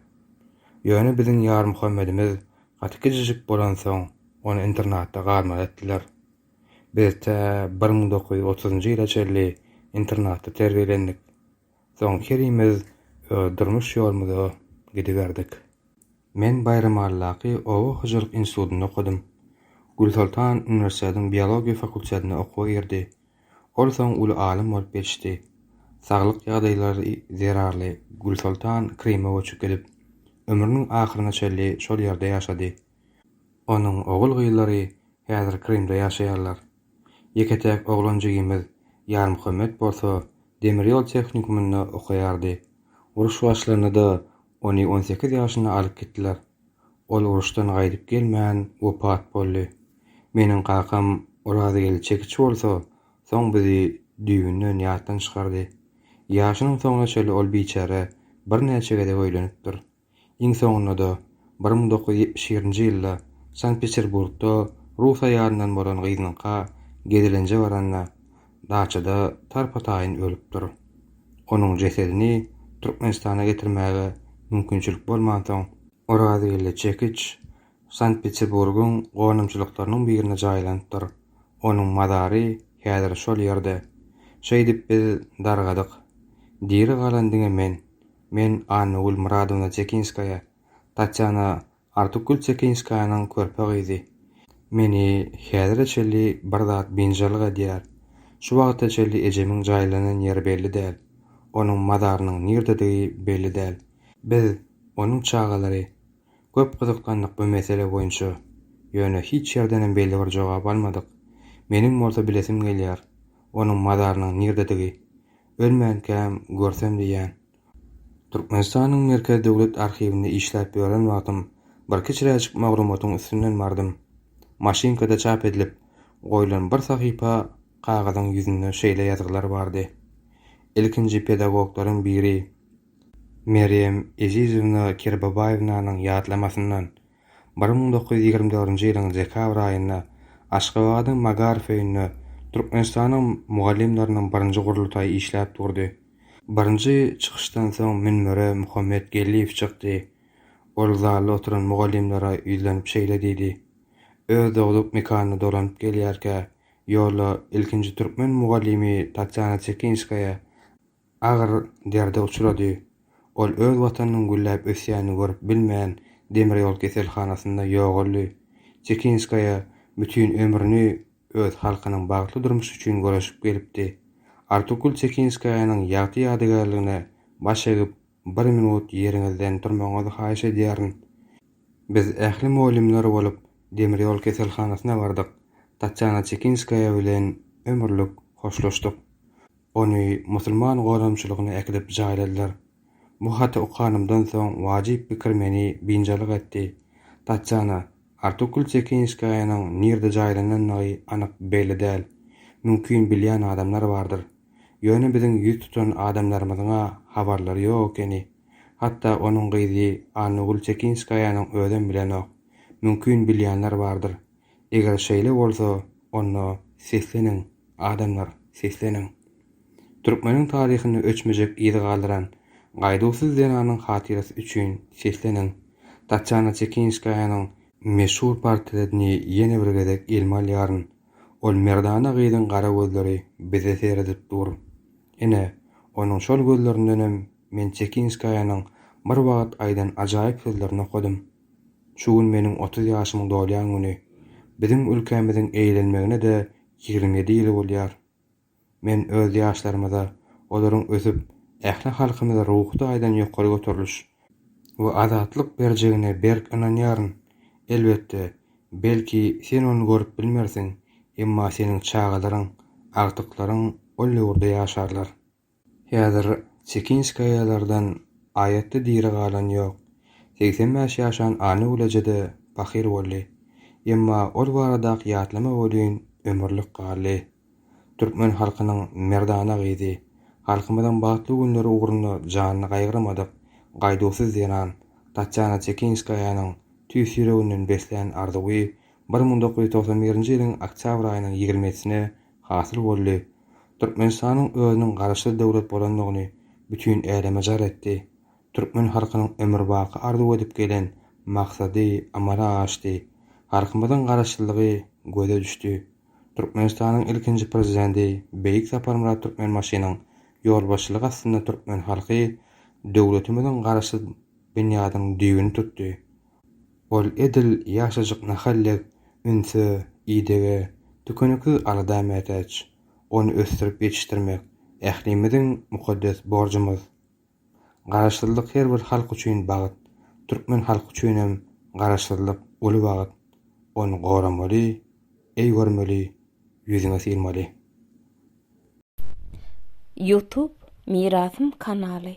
Ýöne biziň Ýarmuhammedimiz gaty kiçijik bolansoň, ony internatda galmaly etdiler. Biz tä bir müň dokuz ýüz otuzynjy ýyla çenli internatda terbiýelendik. Soň herimiz öz durmuş ýolumyza gidiberdik. Men Baýramalydaky oba hojalyk institutynda okadym. Gülsoltan uniwersitetiň biologiýa fakultetine okuwa girdi. Ol soň uly alym bolup ýetişdi. Saglyk ýagdaýlary zerarly Gülsoltan Kryma göçüp gidip, ömrüniň ahyryna çenli şol ýerde ýaşady. Onuň ogul-gyzlary häzir Krymda ýaşaýarlar. Ýeke-täk oglan jigimiz Ýarmuhammet bolsa demir ýol tehnikumynda okaýardy. Uruş başlanda-da ony on sekiz ýaşynda alyp gitdiler. Ol uruşdan gaýdyp gelmän wepat boldy. Meniň kakam Orazgeldi çekiç bolsa soň bizi düýbünden ýatdan çykardy. Ýaşynyň soňuna çenli ol biçäre birnäçe gezek öýlenipdir. Iň soňunda-da, bir müň dokuz ýüz ýetmiş birinji ýylda Sankt-Peterburgda rus aýalyndan bolan gyzyňka gezelenje baranda, daçada tarpa-taýyn ölüpdir. Onuň jesedini Türkmenistana getirmäge mümkinçilik bolmansoň, Orazgeldi Çekiç Sankt-Peterburgyň gonamçylyklarynyň birine jaýlanypdyr, onuň mazary häzir şol ýerde. Şeýdip biz dargadyk. Diri galan diňe men, Men Anna Gulmyradowna Çekinskaýa, Tatýana Artukgül Çekinskaýanyň körpe gyzy. Meni häzire çenli bir zat biynjalyk edýär. Şu wagta çenli ejemiň jaýlanan ýeri belli däl. Onuň mazarynyň nirdedigi belli däl. Biz, onuň çagalary, köp gyzyklandyk bu mesele boýunça. Ýöne hiç ýerdenem belli bir jogap almadyk. Meniň bolsa bilesim gelýär, onuň mazarynyň nirdedigi. Ölmänkäm görsem diýýän. Türkmenistanyň Merkez döwlet arhiwinde işläp ýören wagtym birki çiräjik maglumatyň üstünden bardym. Maşynkada çap edilip goýlan bir sahypa kagyzyň ýüzünde şeýle ýazgylar bardy, Ilkinji pedagoglaryň biri Merýem Ezizowna Kerbabaýewnanyň ýatlamasyndan Bir müň dokuz ýüz ýigrimi dördünji ýylyň dekabr aýynda Aşgabadyň Magaryf öýünde Türkmenistanyň mugallymlarynyň birinji gurultaýy işläp durdy. Birinji çykyşdan soň münbere Muhammet Geldiýew çykdy. Ol zalda oturan mugallymlara ýüzlenip şeýle diýdi, Öz dogduk mekanyna dolanyp gelýärkä, ýolda ilkinji türkmen mugallymy Tatýana Çekinskaýa agyr derde uçrady. Ol öz watanynyň gülläp ösýänini görüp bilmän demir ýol keselhanasynda ýogaldy. Çekinskaýa bütin ömrüni öz halkynyň bagtly durmuşy üçin göreşip gelipdi. Artukul Çekinskaýanyň ýagty ýadygärligine baş egip Bir minut ýeriňizden turmagyňyzy haýyş edýärin. Biz ähli mugallymlar bolup demir ýol keselhanasyna bardyk. Tatýana Çekinskaýa bilen ömürlik hoşlaşdyk. Ony musulman gonamçylygyna äkidip jaýladylar. Bu haty okanymdan soň wajyp pikir meni biynjalyk etdi. Tatýana, Artokul Çekinskaýanyň nirde jaýlanandygy anyk belli däl. Mümkin bilýän adamlar bardyr. Ýöne biziň ýüz tutan adamlarymyzyň-a habarlary ýok ekeni. Hatda onuň gyzy Annagül Çekinskaýanyň özem bilenok. Mümkin bilýänler bardyr. Eger şeýle bolsa, onda sesleniň, adamlar, sesleniň! Türkmeniň taryhynda öçmejek yz galdyran Gaýduwsyz zenanyň hatyrasy üçin sesleniň! Tatýana Çekinskaýanyň meşhur portretini ýene bir gezek elime alýaryn. Ol merdana gyzyň gara gözleri bize seredip dur. Ine, onuň şol gözlerindenem men Çekinskaýanyň bir wagt aýdan ajaýyp sözlerini okadym. Şu gün meniň otuz ýaşymy dolýan güni. Biziň ülkämiziň eýlenmegine-de ýigrimi ýedi ýyl bolýar. Men öz ýaşlarymyza olaryň ösüp, ähli halkymyza ruhy taýdan ýokary göteriliş we azatlyk berjegine berk ynanýaryn. Elbetde, belki, sen ony görüp bilmersiň, emma seniň çagalaryň, agtyklaryň ol ýurda ýaşarlar. Häzir Çekinskaýalardan aýatda diri galan ýok. Segsen bäş ýaşan Anna-Uleja-da pahyr boldy. Emma ol baradaky ýatlama welin ömürlik galdy. Türkmen halkynyň merdana gyzy, halkymyzyň bagtly günleri ugrunda janyny gaýgyrmadyk, gaýduwsyz zenan Tatýana Çekinskaýanyň tüýs ýüreginden beslän arzuwy bir müň dokuz ýüz togsan birinji ýylyň oktýabr aýynyň ýigrimesine hasyl boldy. Türkmenistanyň özüniň garaşsyz döwlet bolandygyny bütin äleme jar etdi. Türkmen halkynyň ömürbaky arzuw edip gelen maksady amala aşdy. Halkymyzyň garaşsyzlygy göze düşdi. Türkmenistanyň ilkinji Prezidenti beýik Saparmyrat Türkmenbaşynyň ýolbaşçylygy astynda türkmen halky döwletimiziň garaşsyz binýadynyň düýbüni tutdy. Ol edil ýaşajyk nahal dek ünse, idege, tükeniksiz alada mätäç. Ony ösdürip ýetişdirmek ählimiziň mukaddes borjumyz. Garaşsyzlyk her bir halk üçin bagt, türkmen halky üçinem Garaşsyzlyk uly bagt. Ony goramaly, eý görmeli, ýüzüňe sylmaly. Youtube Mirasym kanaly.